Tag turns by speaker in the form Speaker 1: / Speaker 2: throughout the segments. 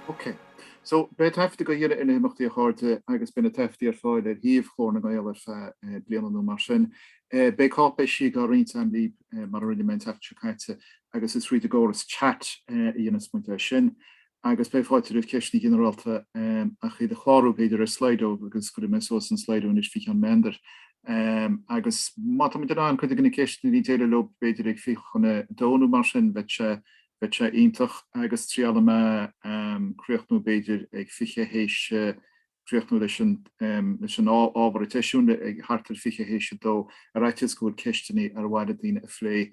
Speaker 1: Ok. So, beidh taifeadadh á dhéanamh ar na himeachtaí a chairde agus beidh na taifeadtaí ar fáil ar shuíomh Ghlór na nGael ar feadh bliana nó mar sin. Beidh cáipéisí á roinnt agam libh mar a rinne mé an tseachtain seo caite agus is tríd an gcóras chat a dhéanfaidh muid é sin. Agus beidh fáilte roimh ceisteanna ginearálta, ach iad a chlárú, b'fhéidir, ar Slido, agus cuirfidh mé suas an Slido anois faoi cheann meandair. Agus má táimid in ann cuid de na ceisteanna a bheith ag déileáil leo, b'fhéidir, ag fiche chun a dó nó mar sin, bheadh sé, bheadh sé iontach. Agus triailfidh mé críochnú, b'fhéidir, ag fiche th'éis, críochnú leis an, leis an ábhar an tseisiúin, thart ar fiche th'éis a dó, ar fhaitíos go bhfuil ceisteanna ar mhaith le daoine a phlé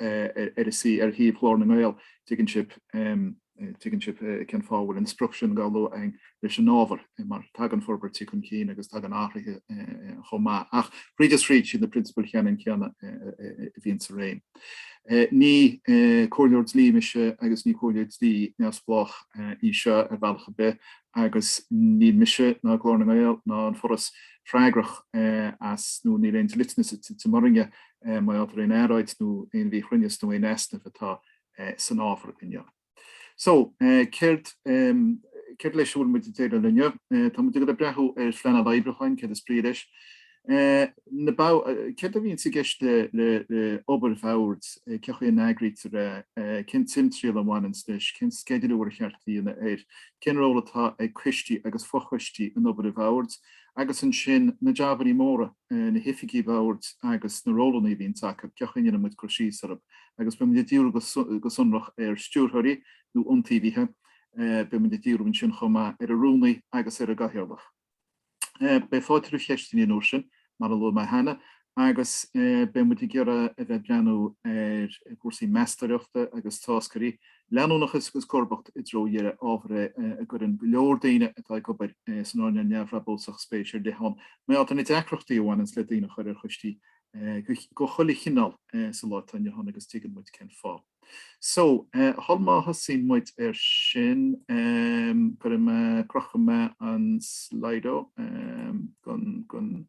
Speaker 1: arís ar shuíomh Ghlór na nGael, tuigeann sibh, tuigeann sibh cén fáth a bhfuil an sprioc sin dhá lua againn leis an ábhar, mar tagann forbairtí chun cinn agus tagann athruithe chomh maith, ach thríd is thríd, siad na prionsabail cheannann céanna a bhíonn i réim. Ní comhairleoir dlí mise agus ní comhairle dlí neamhspleách í seo ar bhealach ar bith agus níl mise ná Glór na nGael ná an Foras freagrach as, nó níl aon dliteanas i gceist orainne mar gheall ar aon earráid nó aon mhíchruinneas nó aon easnamh atá san ábhar inniu. So, céard céard leis a bhfuil muid ag déileáil inniu? Tá muid ag breathnú ar phleanáil oibriúcháin, céard is brí leis? Céard a bhíonns i gceist le obair bhoird, cén chaoi a n-eagraítear é, cén timthriall a bhaineanns leis, cén sceidealú ar cheart a dhéanamh air, cén ról atá ag coistí agus fochoistí in obair bhoird, agus ansin na jabannaí móra. na hoifigigh bhoird agus na rólanna a bhíonn acu, cén chaoi a mbíonn muid ag cur síos orthu, agus beidh muid ag díriú go sonrach ar stiúrthóirí nó iontaobhaithe, beidh muid ag díriú ansin chomh maith ar an rúnaí agus ar an gcathaoirleach. Beidh fáilte roimh cheisteanna an uair sin, mar a luaigh mé cheana, agus beidh muid ag iarraidh a bheith ag breathnú ar chúrsaí meastóireachta agus táscairí leanúnachas agus comharbacht i dtreo an deireadh ábhar é a gcuireann go leor daoine atá ag obair san earnáil neamhbhrabúsach spéis ar leith ann, mar gheall ar na deacrachtaí a bhaineanns le daoine a chur ar choistí de chuile chineál sa lá atá inniu ann agus tuigeann muid cén fáth. So, sul má thosaíonn muid ar sin, cuirfidh mé, crochfaidh mé an Slido chun.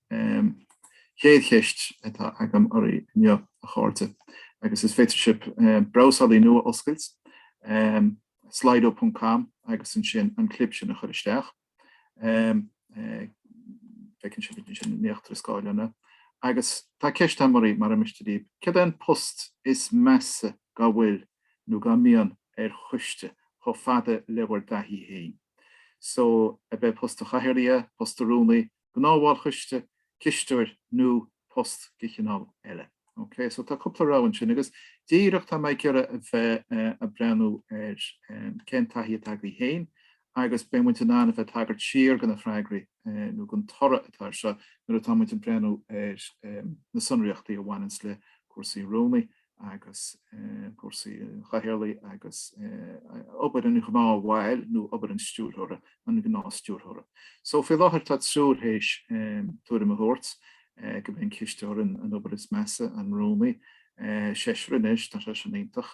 Speaker 1: An chéad cheist atá agam oraibh inniu, a chairde, agus is féidir libh brabhsálaí nua a oscailt, slido ponc com, agus ansin an clib sin a chur isteach. Feiceann sibh ansin in íochtar an scáileáin. Agus tá ceist agam oraibh, mura miste libh, céard é an post is measa dá bhfuil, nó dá mbíonn, ar choiste, chomh fada le bhur dtaithí féin? So, ab é post an chathaoirligh é, post an rúnaí, gnáthbhall coiste, cisteoir nó post de chineál eile. Ok, so tá cúpla rogha ansin agus díreach tá mé ag iarraidh a bheith a' breathnú ar cén taithí atá agaibh féin agus beidh muid in ann a bheith ag tagairt siar go na freagraí nó gon toradh atá air seo nuair atá muid ag breathnú ar na sonraíochtaí a bhaineanns le cúrsaí rúnaí agus cúrsaí chathaoirligh agus obair an ghnáthbhaill nó obair an stiúrthóra, an ghnáthstiúrthóra. So, faoi láthair tá triúr théis tuairim a thabhairt go mbíonn cisteoir an obair is measa, an rúnaí, seisear anois, tá sé sin iontach.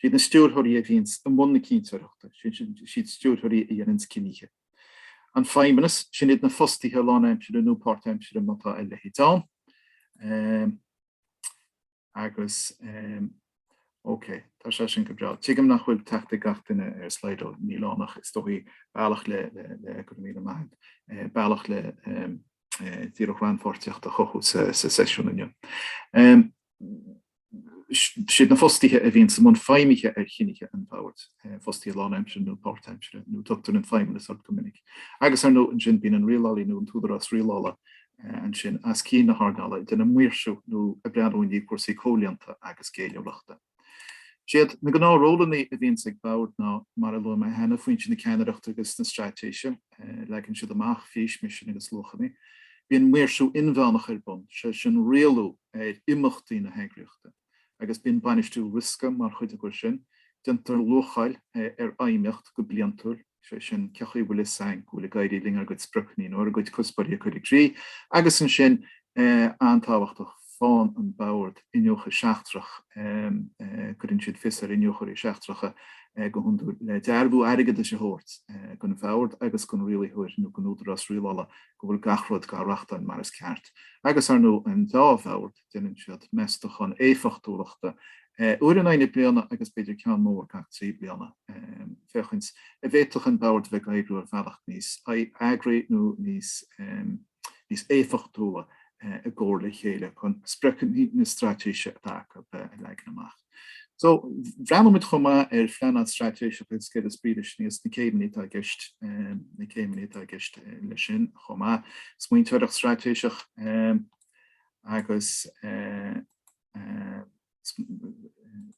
Speaker 1: Siad na stiúrthóirí a bhíonns i mbun na cinnteoireachta, siad na stiúrthóirí a dhéananns cinntí. An Feidhmeannas, sin iad na fostaithe lánaimsire nó páirtaimsire má tá a leithéid ann. Agus ócé, tá sé sin go breá. Tuigim nach bhfuil teacht ag gach duine ar Slido, níl ann ach is dóigh bealach le go raibh míle maith agat bealach le díreach rannpháirtíocht a chothú sa seisiún inniu. siad na fostaithe a bhíonns i mbun feidhmithe ar chinntí an bhoird, fostaithe lánaimsire nó páirtaimsire, nó tugtar an feidhmeannas orthu go minic. Agus, ar ndóigh, ansin, bíonn an rialálaí nó an t-údarás rialála ansin os cionn na hearnála ag déanamh maoirsiú nó ag breathnú i ndiaidh cúrsaí comhlíonta agus géilliúlachta. Siad na gnáthrólanna a bhíonns ag bord ná, mar a luaigh mé cheana, foinse na ceannaireachta agus na straitéise, leagann siad amach fís, misean agus luachanna. Bíonn maoirsiú inmheánach ar bun, sé sin, rialú ar imeachtaí na heagraíochta, agus bíonn bainistiú riosca mar chuid acu sin. Déantar luacháil ar fheidhmíocht go bliantúil, is é sin, cé chaoi a bhfuil fhios againn go bhfuil ag éirí linn ár gcuid spriocanna nó ár gcuid cuspóirí a chur i gcrích, agus ansin, an-tábhachtach, faigheann an Bord Iniúchadh Seachtrach, cuireann siad fios ar iniúchóirí seachtracha go hiondúil, le dearbhú airgeadais a thabhairt don Bhord agus don rialaitheoir nó don údarás rialála go bhfuil gach rud dá reachtáil mar is ceart, agus ar ndóigh an dá bhord, déanann siad meastachán éifeachtúlachta uair in aghaidh na bliana agus b'fhéidir ceann mór gach trí bliana, féachaint an bhféadfadh an bord a bheith ag oibriú ar bhealach níos eagraithe nó níos éifeachtúla i gcomhar le chéile chun spriocanna na straitéise atá acu a leagan amach. So, bhreathnaigh muid chomh maith ar phleanáil straitéiseach agus céard is brí leis, níos, na céimeanna atá i gceist, na céimeanna atá i gceist leis sin chomh maith, smaointeoireacht straitéiseach agus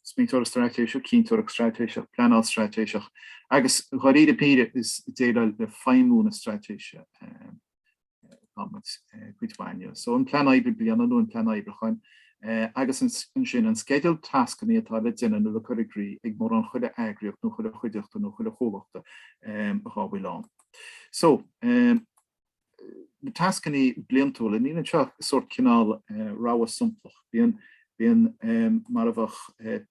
Speaker 1: smaointeoireacht straitéiseach, cinnteoireacht straitéiseach, pleanáil straitéiseach agus, dháiríre píre, is é a dhéileálann le feidhmiú na straitéise. cuid mhaith. So an plean oibre bliana nó an plean oibriúcháin agus ansin an sceideal tascanna atá le déanamh nó le cur i gcrích ag mórán chuile eagraíocht nó chuile chuideachta nó chuile chomhlachta dhá bhfuil ann. So na tascanna bliantúla, níl anseo sórt cineál rogha samplach. Bíonn mar a bheadh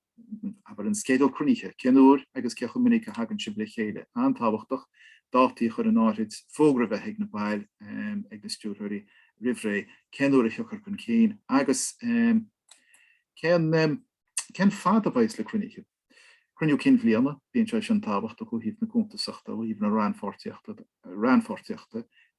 Speaker 1: Abair an sceideal cruinnithe, cén uair agus cé chomh minic a thagann sibh le chéile? An-tábhachtach, dátaí a chur in áirithe, fógra a bheith ag na baill, ag na stiúrthóirí, roimh ré, cén uair a thiocfar chun cinn, agus cén fad a bheas na cruinnithe. Cruinniú Cinn Bhliana, bíonn sé sin tábhachtach ó thaobh na cuntasachta, ó thaobh na rannpháirtíochta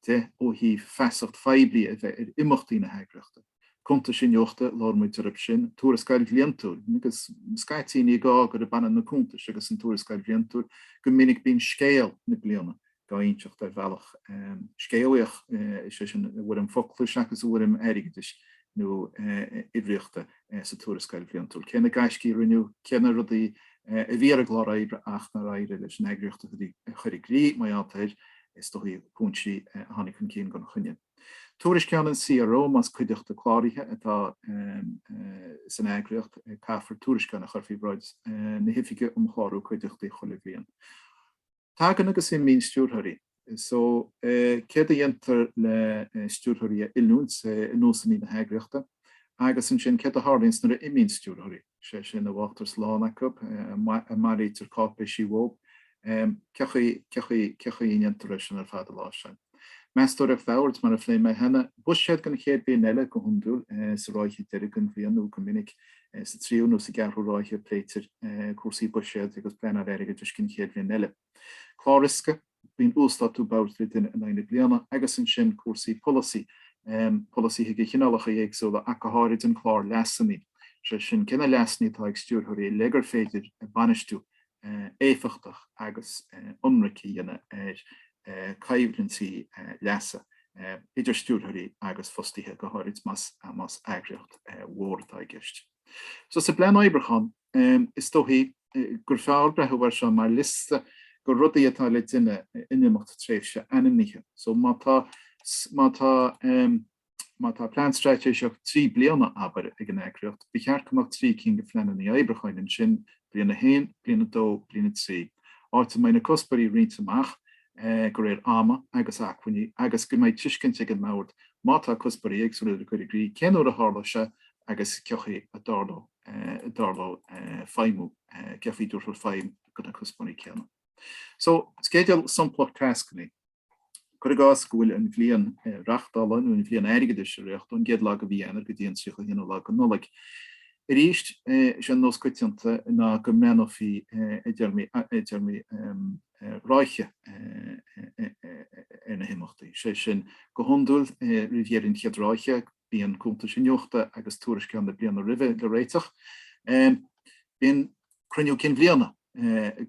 Speaker 1: de, ó thaobh feasacht phoiblí a bheith ar imeachtaí na heagraíochta. cuntais iniúchta labhair muid orthu sin, tuarascáil bhliantúil, agus scaití ní gá gurb ionann na cuntais agus an tuarascáil bhliantúil, go minic bíonn scéal na bliana dá inseacht ar bhealach scéalaíoch, is é sin, i bhfoirm focla seachas i bhfoirm airgeadais nó uimhríochta sa tuarascáil bhliantúil. Cé na gaiscí a rinneadh, cé na rudaí a bhí ar an gclár oibre ach nár éirigh leis an eagraíocht a chur i gcrích, mar gheall ar, is dóigh, cúinsí a tháinig chun cinn gan choinne. Tuairisceán an CRO más cuideachta cláraithe atá san eagraíocht, caithfear tuairisceán a chur faoi bhráid na hOifige um Chlárú Cuideachtaí chuile bhliain. Tagann agus imíonn stiúrthóirí. So, céard a dhéantar le stiúrthóirí a oiliúint i nósanna na heagraíochta? Agus ansin, céard a tharlaíonns nuair a imíonn stiúrthóirí? is é sin an bhfágtar slán acu, an mbailítear cáipéisí uathub, cé chaoi a ndéantar é sin ar fad a láimhseáil? Meastóireacht boird, mar a phléigh mé cheana, buiséad don chéad bhliain eile go hiondúil, sa ráithe deiridh den bhliain nó go minic sa tríú nó sa gceathrú ráithe a pléitear cúrsaí buiséid agus pleanáil airgeadais don chéad bhliain eile. Clár Riosca, bíonn uasdátú boird le déanamh in aghaidh na bliana, agus ansin cúrsaí polasaí, polasaithe de chineálacha éagsúla ach go háirid an clár leasannaí, sé sin cé na leasannaí atá ag stiúrthóirí le gur féidir bainistiú éifeachtach agus ionraic a dhéanamh ar coimhlintí leasa idir stiúrthóirí agus fostaithe, go háirid más eagraíocht mhór atá i gceist. So sa bPlean Oibriúcháin. Ehm, is dóichí gur fearr breathú air seo mar liosta go rudaí atá le déanamh in imeacht tréimhse ainmnithe. So má tá plean straitéiseach trí bliana, abair, ag an eagraíocht, ba cheart go mbeadh trí cinn go phleanannaí oibriúcháin ansin, bliain a haon, bliain a dó, bliain a trí, áit a mbeidh na cuspóirí roinnte amach, eh, go réir ama agus acmhainní agus go mbeidh tuiscint ag an mbord, má tá cuspóirí éagsúla le cur i gcrích, cén uair a tharlóidh sé agus cén chaoi a dtarlóidh. dtarlóidh feidhmiú nó tabhairt faoi feidhm go na cuspóirí céanna. So, sceideal samplach tascannaí. Cuir i gcás go bhfuil an bhliain reachtála nó an bhliain airgeadais ag rith ón gcéad lá go mhí Eanáir go dtí an tríocha haonú lá go Nollaig. Arís, is é an nós coitianta ná go mbreathnófaí i dtéarmaí ráithe ar na himeachtaí. Is é sin, go hiondúil, roimh dheireadh an chéad ráithe, Bíonn cuntais iniúchta agus tuairisceáin na bliana roimhe le réiteach. Bíonn cruinniú cinn bhliana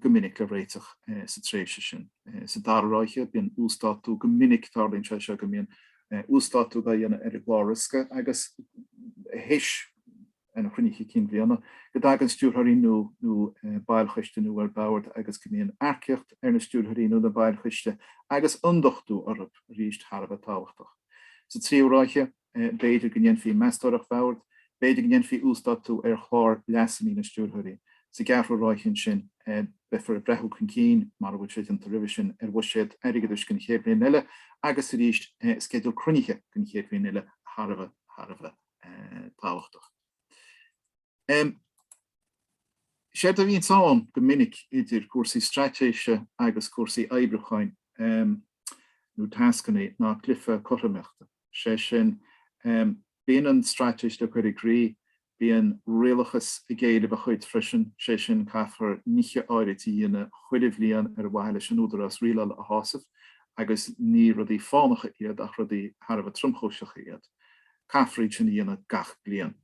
Speaker 1: go minic le réiteach sa tréimhse sin. Sa dara ráithe, bíonn uasdátú, go minic tarlaíonn sé seo go mbíonn uasdátú dhá dhéanamh ar an gclár riosca agus théis an Chruinnithe Cinn Bhliana, go dtagann stiúrthóirí nó baill choiste nua ar bord agus go mbíonn earcaíocht ar na stiúrthóirí nó na baill choiste agus ionduchtú orthu arís thar a bheith tábhachtach. Sa tríú ráithe, b'fhéidir go ndéanfaí meastóireacht bhoird, b'fhéidir go ndéanfaí uasdátú ar chlár leasannaí na stiúrthóirí. Sa gceathrú ráithe ansin, beifear ag breathnú chun cinn, mara bhfuil sé déanta roimhe sin, ar bhuiséad airgeadais don chéad bhliain eile agus arís sceideal cruinnithe don chéad bhliain eile thar a bheith. tábhachtach. Séard a bhíonns ann go minic idir cúrsaí straitéise agus cúrsaí oibriúcháin nó tascannaí ná cluife cothromaíochta. Sé sin, bíonn an straitéis le cur i gcrích, bíonn rialachas ag éileamh a chuid freisin, sé sin caithfear nithe áirit a dhéanamh chuile bhliain ar mhaithe leis an údarás rialála a shásamh agus ní rudaí fánacha iad ach rudaí thar a bheith tromchúiseacha iad. caithfear iad sin a dhéanamh gach bliain.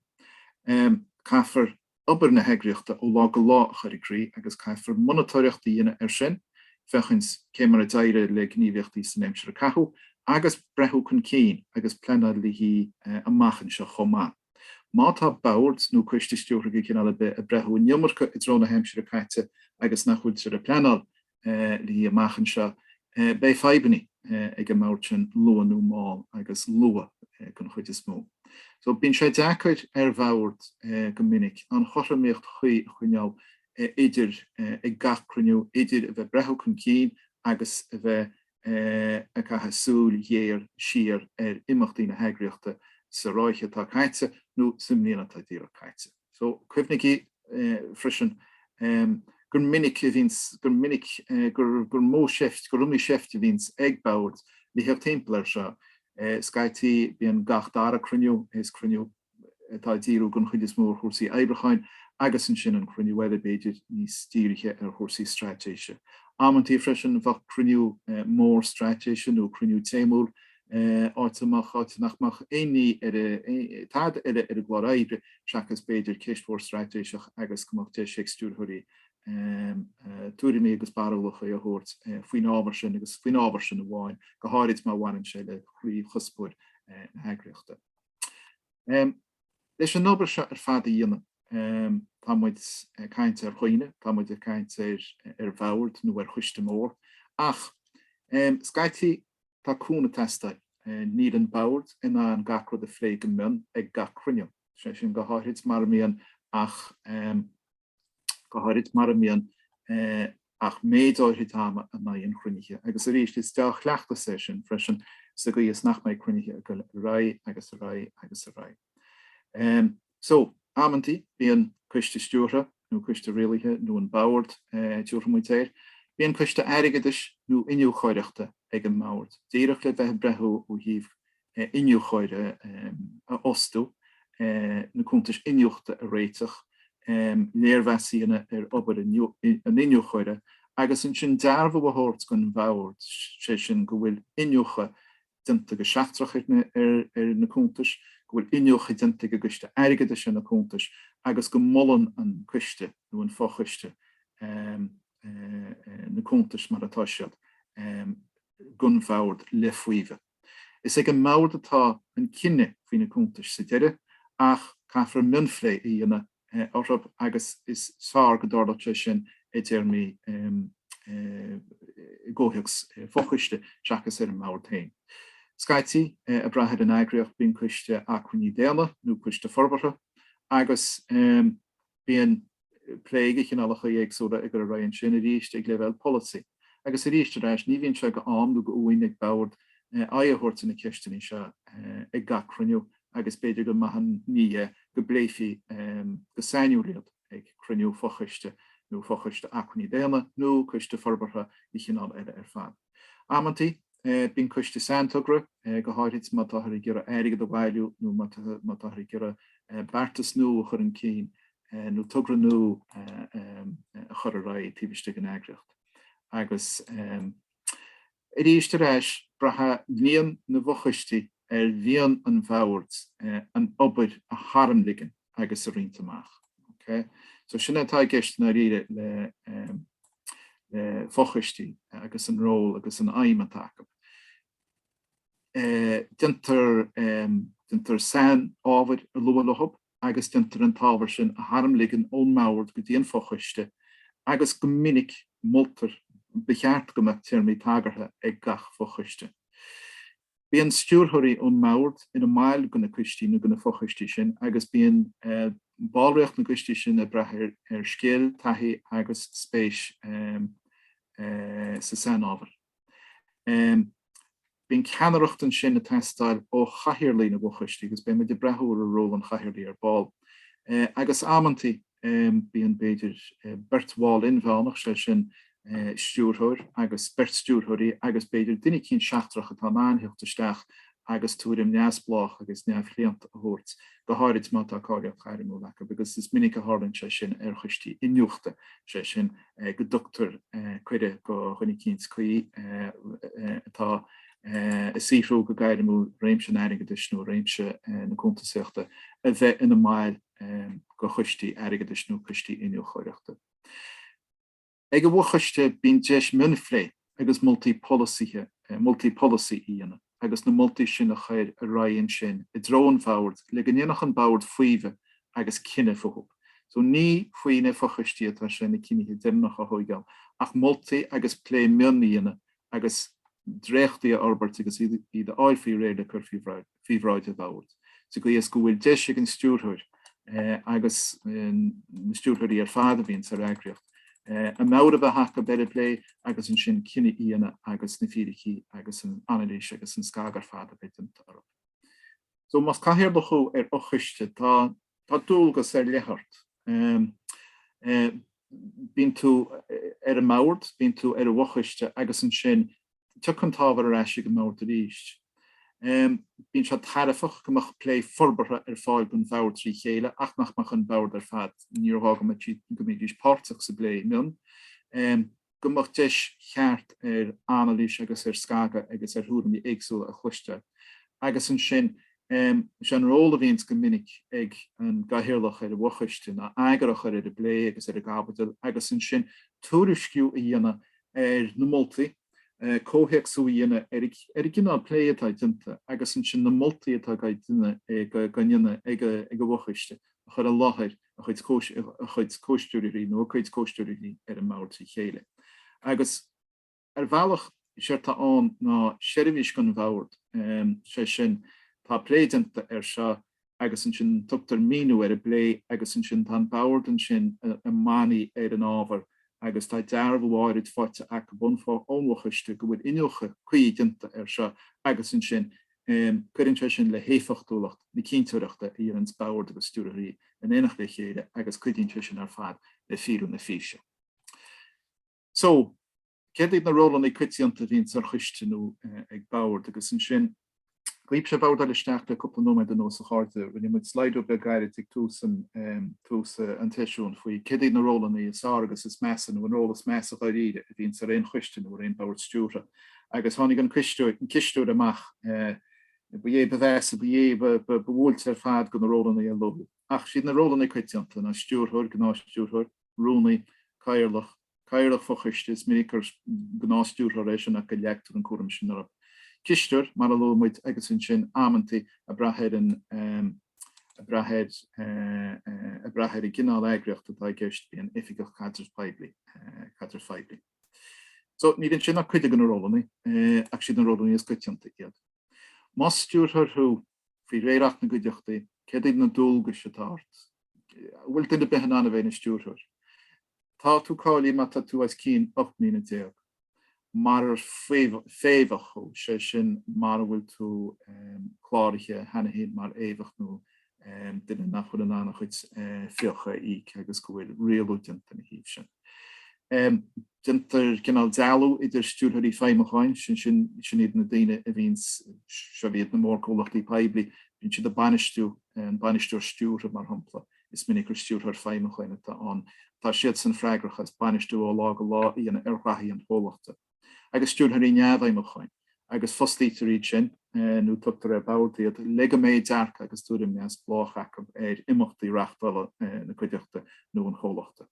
Speaker 1: Caithfear obair na heagraíochta ó lá go lá a chur i gcrích agus caithfear monatóireacht a dhéanamh air sin, féachaint cé mar a d'éirigh le gníomhaíochtaí san aimsir a caitheadh agus breathnú chun cinn agus pleanáil le haghaidh amach anseo chomh maith. Má tá boird nó coistí stiúrtha de chineál ar bith ag breathnú an iomarca i dtreo na haimsire caite agus nach bhfuiltear ag pleanáil léi amach anseo, beidh fadhbanna ag an mbord sin luath nó mall, agus luath den chuid is mó. So bíonn sé deacair ar bhord go minic an chothromaíocht chuí a choinneáil idir ag gach cruinniú idir a bheith ag breathnú chun cinn agus a bheith ag caitheamh súil ghéar siar ar imeachtaí na heagraíochta sa ráithe atá caite nó sa mbliain atá díreach caite. So, cuimhnigí freisin gur minic a bhíonns, gur minic, gur, gur mó seift, gur iomaí seift a bhíonns ag bord le theacht timpeall air seo. Scaití, bíonn gach dara cruinniú, is cruinniú atá ag díriú den chuid is mó ar chúrsaí oibriúcháin agus ansin an cruinniú eile, b'fhéidir, níos dírithe ar chúrsaí straitéise. Amantaí freisin, bheadh cruinniú mór straitéise nó cruinniú téamúil áit a mbeadh, áit nach mbeadh aon ní tada eile ar an gclár oibre seachas b'fhéidir ceist mhór straitéiseach agus go mbeadh deis ag stiúrthóirí tuairimí agus barúlacha a thabhairt faoin ábhar sin agus faoin ábhar sin amháin, go háirid má bhaineann sé le croíchuspóir na heagraíochta. Leis an obair seo ar fad a dhéanamh, tá muid ag caint ar dhaoine, tá muid ag caint ar bhord nó ar choiste mór ach, scaití, Tá cúnamh ag teastáil. Níl an bord in ann gach rud a phlé go mion ag gach cruinniú. Sé sin go háirid mara mbíonn ach go háirid mara mbíonn ach méid áirid ama in aghaidh an chruinnithe. Agus arís, is deá-chleachtas é sin freisin sa gcaoi is nach mbeidh cruinnithe ag dul ar aghaidh agus ar aghaidh agus ar aghaidh. So, amantaí, bíonn coiste stiúrtha, nó coiste rialaithe, nó an bord, a dtabharfadh muid air, bíonn coiste airgeadais nó iniúchóireachta ag an mbord, díreach le bheith ag breathnú ó thaobh iniúchóir a fhostú, na cuntais iniúchta a réiteach, léirmheas a dhéanamh ar obair an iniúchóra, agus ansin dearbhú a thabhairt don bhord, sé sin, go bhfuil iniúchadh déanta go seachtrach ar na cuntais, go bhfuil iniúchadh déanta ag an gCoiste Airgeadais ar na cuntais agus go molann an Coiste, nó an Fochoiste, na cuntais mar atá siad, don bhord le faomhadh. Is ag an mbord atá an cinneadh faoi na cuntais sa deireadh ach caithfear mionphlé a dhéanamh orthu agus is fearr go dtarlódh sé sin i dtéarmaí i gcomhthéacs fochoiste seachas ar an mbord féin. Scaití, ag brath ar an eagraíocht, bíonn coiste acmhainní daonna nó coiste forbartha agus bíonn plé de chineálacha éagsúla ag dul ar aghaidh ansin, arís ag leibhéal polasaí. agus arís ar ais ní bhíonn sé de am nó de uain ag boird aghaidh a thabhairt ar na ceisteanna seo ag gach cruinniú agus b'fhéidir gur maith an ní é go bpléifí go sainiúil iad ag cruinniú fo-choiste nó fo-choiste acmhainní daonna nó coiste forbartha de chineál eile ar fad. Amantaí bíonn coiste saintogra, go háirid má táthar ag iarraidh airgead a bhailiú nó má táthar ag iarraidh beartas nua a chur chun cinn nó togra nua a chur ar aghaidh taobh istigh den eagraíocht. Agus arís ar ais, braitheann líon na bhfochoistí ar mhian an bhoird an obair a tharmligean agus a roinnt amach. Okay? So sin atá i gceist i ndáiríre le fochoistí agus an ról agus an fheidhm atá acu. déantar déantar sain-ábhair a lua leo agus déantar an t-ábhar sin a tharmligean ón mbord go dtí an fochoiste agus go minic moltar Ba cheart go mbeadh téarmaí tagartha ag gach fochoiste. Bíonn stiúrthóirí ón mbord ina mbaill de na coistí nó de na fochoistí sin agus bíonn ballraíocht na gcoistí sin ag brath ar scil, taithí agus spéis sa sainábhar. Bíonn ceannaireacht ansin ag teastáil ó chathaoirligh na bhfochoistí agus beidh muid ag breathnú ar ról an chathaoirligh ar ball. Agus amantaí bíonn, b'fhéidir, beirt bhall inmheánach, sé sin stiúrthóir agus beirt stiúrthóirí agus, b'fhéidir, duine eicínt seachtrach atá in ann theacht isteach agus tuairim neamhspleách agus neamhchlaonta a thabhairt, go háirid má tá cáilíocht ghairmiúil acu, agus is minic a tharlaíonn sé sin ar choistí iniúchta, is é sin, go dtugtar cuireadh do dhuine eicínt cuí atá ag saothrú go gairmiúil i réimse an airgeadais nó réimse na cuntasaíochta a bheith ina mbaill de choistí airgeadais nó coistí iniúchóireachta. Ag an bhfochoiste bíonn deis mionphlé agus moltaí polasaithe, moltaí polasaí a dhéanamh agus na moltaí sin a chur ar aghaidh ansin i dtreo an bhoird le go ndéanfadh an bord faomhadh agus cinneadh fúthu. So ní faoi na fochoistí atá sé na cinnithe deireanacha a thóigeáil ach moltaí agus plé mion a dhéanamh agus dréachtaí a fhorbairt agus iad a fháil faoi réir le cur faoi bhráid an Bhoird, sa gcaoi is go bhfuil deis ag an Stiúrthóir agus na Stiúrthóirí ar fad a bhíonn san eagraíocht amharc a bheith acu ar an bplé agus ansin cinneadh a dhéanamh agus na fíricí agus an anailís agus an scagadh ar fad a bheith déanta orthu. Más cathaoirleach thú ar fhochoiste, tá Tá dualgas ar leith ort. Bíonn tú ar an mbord, bíonn tú ar an bhfochoiste agus ansin tiocfaidh an t-ábhar ar ais ag an mbord arís. Bíonn sé tairbheach go mbeadh plé forbartha ar fáil don bhord trí chéile ach nach mbeadh an bord ar fad, níor ghá go mbeidís páirteach sa bplé mion. go mbeadh deis cheart ar anailís agus ar scagadh agus ar thuairimí éagsúla a chloisteáil. Agus ansin, is é an ról a bhíonns go minic ag an gCathaoirleach ar an bhFochoiste ná eagar a chur ar an bplé agus ar an gcaibidil agus ansin tuairisciú a dhéanamh ar na moltaí, comhthéacsú a dhéanamh ar an gcineál plé atá déanta agus ansin na moltaí atá dhá ndéanamh ag an bhFochoiste a chur i láthair. a chuid comhstiúrthóirí, nó a cuid comhstiúrthóirí, ar an mbord trí chéile. Agus, ar bhealach, séard tá ann ná seirbhís dhon bhord, sé sin, tá plé déanta air seo agus ansin tugtar míniú ar an bplé agus ansin tá an bord ansin i mbannaí ar an ábhar agus tá dearbhú áirid faighte ag an bhfo- ón bhfochoiste go bhfuil iniúchadh cuí déanta air seo agus ansin Cuireann sé sin le héifeachtúlacht na cinnteoireachta ar an mbord agus stiúrthóirí in éineacht le chéile agus cuidíonn sé sin ar fad le fíorú na físe. So, céard iad na rólanna coitianta a bhíonns ar choiste nó ag bord? Agus ansin, dhaoibhse a bhordáil isteach le cúpla nóiméad anuas a chairde, rinne muid Slido beag gairid ag tús an tseisiúin faoi céard iad na rólanna is fearr agus is measa nó an ról is measa dháiríre a bhíonns ar aon choiste nó ar aon bord stiúrtha. agus tháinig an cisteoir amach ba é ba mheasa ba é ba bhuailte ar fad de na rólanna a luadh. Ach is iad na rólanna coitianta, an stiúrthóir, gnáthstiúrthóir, rúnaí, cathaoirleach, cathaoirleach fochoiste, is minic gur gnáthstiúrthóir é sin ach go leagtar an cúram sin orthu, cisteoir, mar a luaigh muid, agus ansin amantaí ag brath ar an ag brath ar ag brath ar an gcineál eagraíochta atá i gceist, bíonn oifigeach caidrimh poiblí, caidrimh phoiblí. So, níl iontu sin ach cuid de na rólanna, ach is iad na rólanna is coitianta iad. Más stiúrthóir thú, faoi réir Acht na gCuideachtaí, céard iad na dualgais atá ort? An bhfuil duine ar bith in ann a bheith ina stiúrthóir? Tá tú cáilithe má tá tú os cionn ocht mbliana déag. Marar féimheach thú, sé sin mara bhfuil tú cláraithe cheana féin mar fhéimheach nó duine nach bhfuil in ann a chuid fiacha a íoc agus go bhfuil rialú déanta ina thaobh sin. Déantar cineál dealú idir stiúrthóirí feidhmiúcháin, sin iad na daoine a bhíonn, sa, bhíodh na mórchomhlachtaí poiblí, bíonn siad ag bainistiú, an bainisteoir stiúrtha, mar shampla, is minic gur stiúrthóir feidhmiúcháin atá ann, tá siadsan freagrach as bainistiú ó lá go lá a dhéanamh ar ghnóthaí an chomhlachta. agus stiúrthóirí neamhfheidhmiúcháin, agus fostaítear iad sin, nó tugtar ar bord iad, le go mbeidh dearcadh agus tuairim neamhspleách acu ar imeachtaí reáchtála na cuideachta nó an chomhlachta.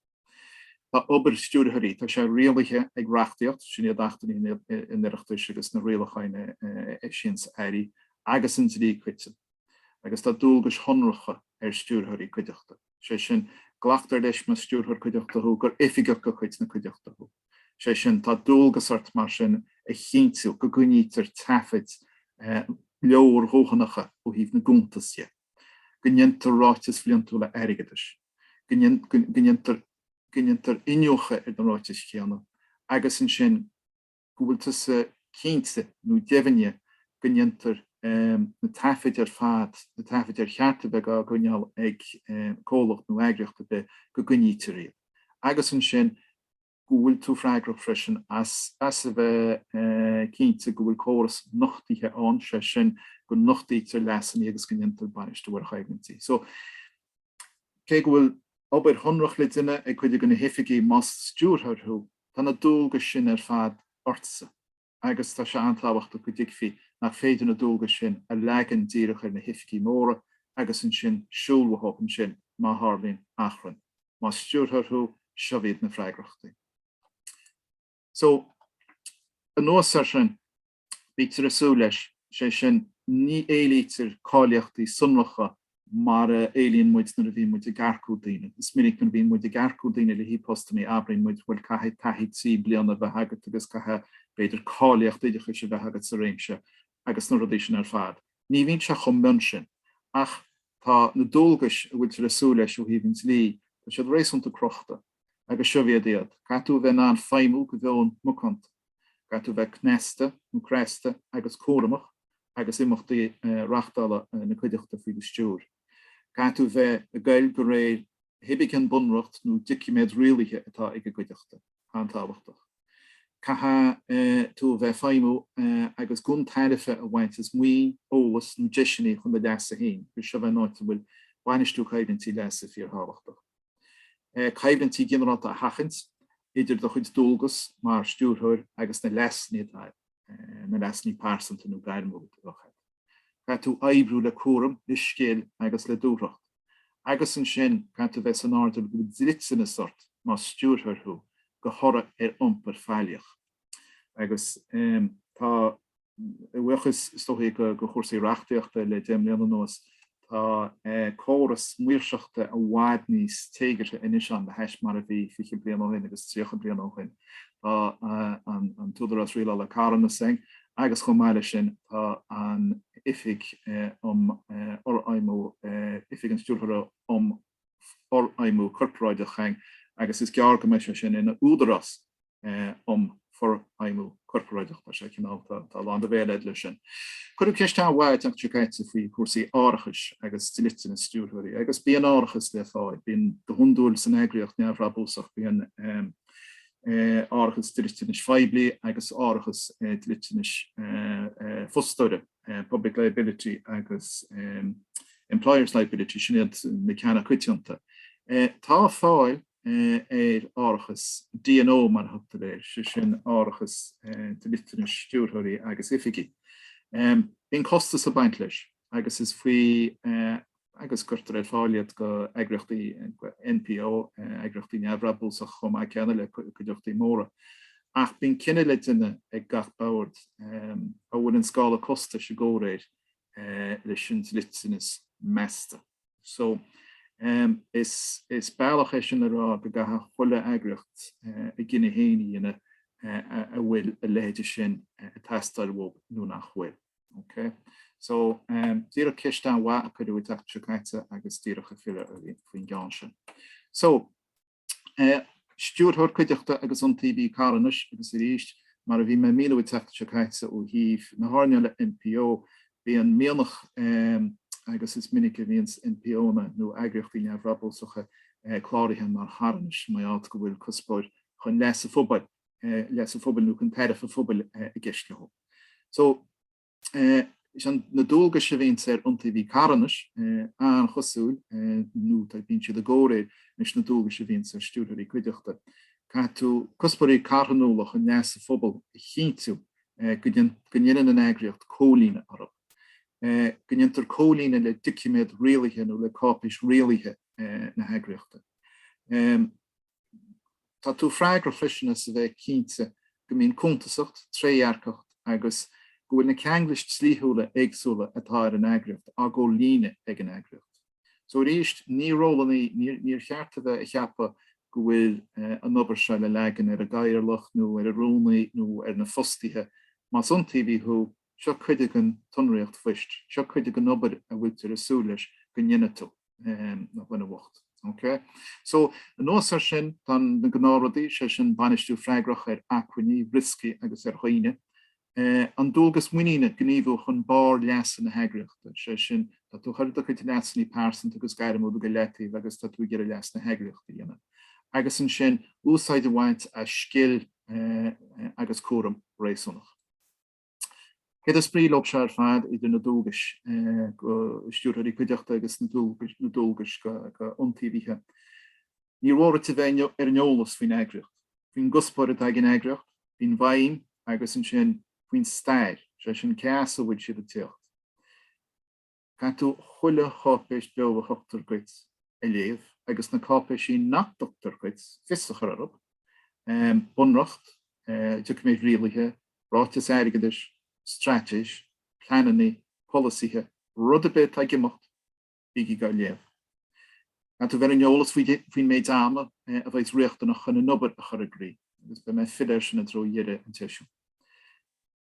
Speaker 1: Tá obair stiúrthóirí, tá sé rialaithe ag reachtaíocht, sin iad Achtanna an Oireachtais agus na rialacháin a eisíonns Airí, agus an dlí coiteann, agus tá dualgais shonracha ar stiúrthóirí cuideachta. sé sin, glactar leis más stiúrthóir cuideachta thú gur oifigeach de chuid na cuideachta thú. Sé sin, tá dualgas ort mar sin a chinntiú go gcoinnítear taifid leordhóthanacha ó thaobh na gcuntas de, go ndéantar ráitis bhliantúla airgeadais, go ndéar, go ndéantar iniúchadh ar na ráitis chéanna agus ansin, go bhfuil tusa cinnte nó deimhneach go ndéantar na taifid ar fad, na taifid ar cheart a bheith á gcoinneáil ag comhlacht nó eagraíocht ar bith, go gcoinnítear iad. Agus ansin go bhfuil tú freagrach freisin as a bheith cinnte go bhfuil córas nochtaithe ann, sé sin, go nochtar leasanna agus go ndéantar bainistiú ar choimhlintí. So, cé go bhfuil obair shonrach le déanamh ag cuid de na hoifigigh más stiúrthóir thú, Tá na dualgais sin ar fad ortsa agus tá sé an-tábhachtach go dtuigfí nach féidir na dualgais sin a leagan díreach ar na hoifigigh mhóra agus ansin siúl uathu ansin má tharlaíonn achrann. Más stiúrthóir thú, seo iad na freagrachtaí. So, anuas air sin, bítear ag súil leis, sé sin, ní éilítear cáilíochtaí sonracha mar a éilíonn muid nuair a bhíonn muid ag earcú daoine. Is minic nuair a bhíonn muid ag earcú daoine le haghaidh postannaí abraíonn muid, bhuel, caithfidh taithí trí bliana a bheith agat agus caithfidh, b'fhéidir, cáilíocht oideachais a bheith agat sa réimse agus na rudaí sin ar fad. Ní bhíonn sé chomh mion sin, ach tá na dualgais a bhfuiltear ag súil leis ó thaobh an dlí, tá siad réasúnta crochta. Agus seobh iad iad. Caithfidh tú a bheith in ann feidhmiú de mheon macánta. Caithfidh tú a bheith cneasta, nó cneasta, agus cúramach agus imeachtaí reachtála na cuideachta faoi do stiúir. Caithfidh tú bheith ag goil de réir 'chaoi ar bith an bunreacht nó doiciméad rialaithe atá ag an gcuideachta. An-tábhachtach. Caithfidh tú a bheith ag feidhmiú agus gan tairbhe a bhaint as maoin, eolas nó deiseanna chun do leasa féin agus seobh é an áit a bhfuil bainistiú coimhlintí leasa fíor-thábhachtach. Coimhlintí ginearálta a sheachaint idir do chuid dualgas mar stiúrthóir agus na leasanna atá, na leasanna pearsanta nó gairmiúla, a bheadh agat. caithfidh tú oibriú le cúram, le scil agus le dúthracht. Agus ansin caithfidh tú bheith san airdeall go dliteanas ort más stiúrthóir thú de thoradh ar iompar faillíoch. Agus tá a bhuíochas, is dóichí, de chúrsaí reachtaíochta le deich mbliana anuas, Tá córas maoirseachta i bhfad níos téagartha anois ann le hais mar a bhí fiche bliain ó shin agus tríocha bliain ó shin. Tá an tÚdarás Rialála Carthanas ann, agus chomh maith leis sin tá an Oifig um Fhorfheidhmiú Oifig an Stiúrthóra um forfheidhmiú corparáideach féin agus is gearr go mbeidh sé sin ina údarás um forfheidhmiú corparáideach. Tá sé cineál, tá lán do bhéil leis sin. Cuireadh ceist an-mhaith an tseachtain seo caite faoi chúrsaí árachais agus dliteanas stiúrthóirí. Agus bíonn árachas le fáil, bíonn, go hiondúil san eagraíocht neamhbhrabúsach, bíonn árachas dliteanais phoiblí agus árachas dliteanais fostóra. public liability agus employers liability, sin iad na ceanna coitianta. Tá fáil ar árachas D&O, mar a thugtar air, sé sin árachas dliteanais stiúrthóirí agus oifigeach. Bíonn costas ag baint leis agus is faoi agus cuirtear ar fáil iad go eagraíochtaí NPO, eagraíochtaí neamhbhrabúsach chomh maith céanna le cuideachtaí móra. Ach bíonn cinneadh le déanamh ag gach bord an bhfuil an scála costais i gcomhréir leis an dliteanas measta. So, is bealach é sin a rá go gcaithfidh chuile eagraíocht a gcinneadh féin a dhéanamh an bhfuil a leithéide sin ag teastáil uathu nó nach bhfuil. Ok. So, díreach ceist an-mhaith a cuireadh an tseachtain seo caite agus díreach ag filleadh uirthi faoin gceann sin. So, Stiúrthóir Cuideachta agus Iontaobhaí Carthanais agus arís, mar a bhí mé ag míniú an tseachtain seo caite ó thaobh na hearnála NPO, bíonn mianach, agus is minic a bhíonn NPOnna nó eagraíochtaí neamhbhrabúsacha cláraithe mar charthanais maidir le go bhfuil cuspóir chun leas an phobail, leas an phobail nó chun tairbhe an phobail i gceist leo. So, is ionann na dualgais a bhíonns ar Iontaobhaí Carthanais, an-chosúil, nó tá, bíonn siad i gcomhréir leis na dualgais a bhíonns ar Stiúrthóirí Cuideachta. Caithfidh tú cuspóirí carthanúla chun leasa an phobail a chinntiú go ndéanann an eagraíocht comhlíonadh orthu, go ndéantar comhlíonadh le doiciméad rialaithe nó le cáipéis rialaithe na heagraíochta. Tá tú freagrach freisin as a bheith cinnte go mbíonn cuntasacht, trédhearcacht agus go bhfuil na ceanglais dlíthiúla éagsúla atá ar an eagraíocht á gcomhlíonadh ag an eagraíocht. So arís, ní ról an, ní, níor cheart a bheith ag ceapadh go bhfuil an obair seo le leagan ar an gcathaoirleach nó ar an rúnaí nó ar na fostaithe, más iontaobhaí thú, Seo cuid den tsonraíocht phoist, seo cuid den obair a bhfuiltear ag súil leis go ndéanfaidh tú, a dhuine bhoicht. OK? So, anuas air sin, tá na gnáthrudaí, sé sin, bainistiú freagrach ar acmhainní, rioscaí agus ar dhaoine. An dualgas muiníne gníomhú chun barr leasa na heagraíochta, sé sin, tá tú ag cur do chuid leasanna pearsanta agus gairmiúla go leataobh agus tá tú ag iarraidh leas na heagraíochta a dhéanamh. Agus ansin, úsáid a bhaint as scil agus cúram réasúnach. Céard is brí leob seo ar fad idir na dualgais do stiúrthóirí cuideachta agus na dualgais do iontaobhaithe? Níor mhór duit a bheith ar an eolas faoin eagraíocht, faoin gcuspóir atá ag an eagraíocht, faoin bhfeidhm agus ansin faoin stair, sé sin cé as a bhfuil siad ag tíocht. Caithfidh tú chuile cháipéis bheo a thugtar duit a léamh, agus na cáipéisí nach dtugtar duit, fios a chur orthub, bunreacht, doiciméid rialaithe, ráitis airgeadais, straitéis, pleanannaí, polasaithe, rud ar bith atá ag imeacht, bígí á léamh. Caithfidh tú bheith ar an eolas faoin méid ama a bheas riachtanach chun an obair a chur i gcrích, agus beidh mé ag filleadh air sin i dtreo dheireadh an tseisiúin.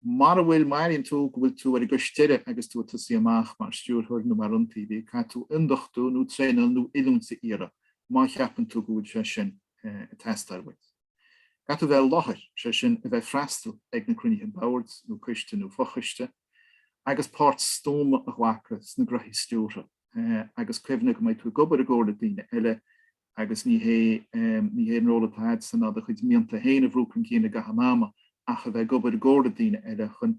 Speaker 1: Mara bhfuil, má airíonn tú go bhfuil tú ar an gcois deiridh agus tú ag tosaí amach mar stiúrthóir nó mar iontaobhaí, caithfidh tú ionduchtú nó traenáil nó oiliúint a iarraidh, má cheapann tú go bhfuil sé sin ag teastáil uait. Caithfidh tú a bheith i láthair, sé sin, a bheith ag freastal ag na cruinnithe boird nó coiste nó fochoiste, agus páirt stuama a ghlacadh sna gnoithí stiúrtha, agus cuimhnigh go mbeidh tú ag obair i gcomhar le daoine eile, agus ní hé an ról atá agatsa ná do chuid mianta féin a bhrú chun cinn i gcaitheamh an ama ach a bheith ag obair i gcomhar le daoine eile chun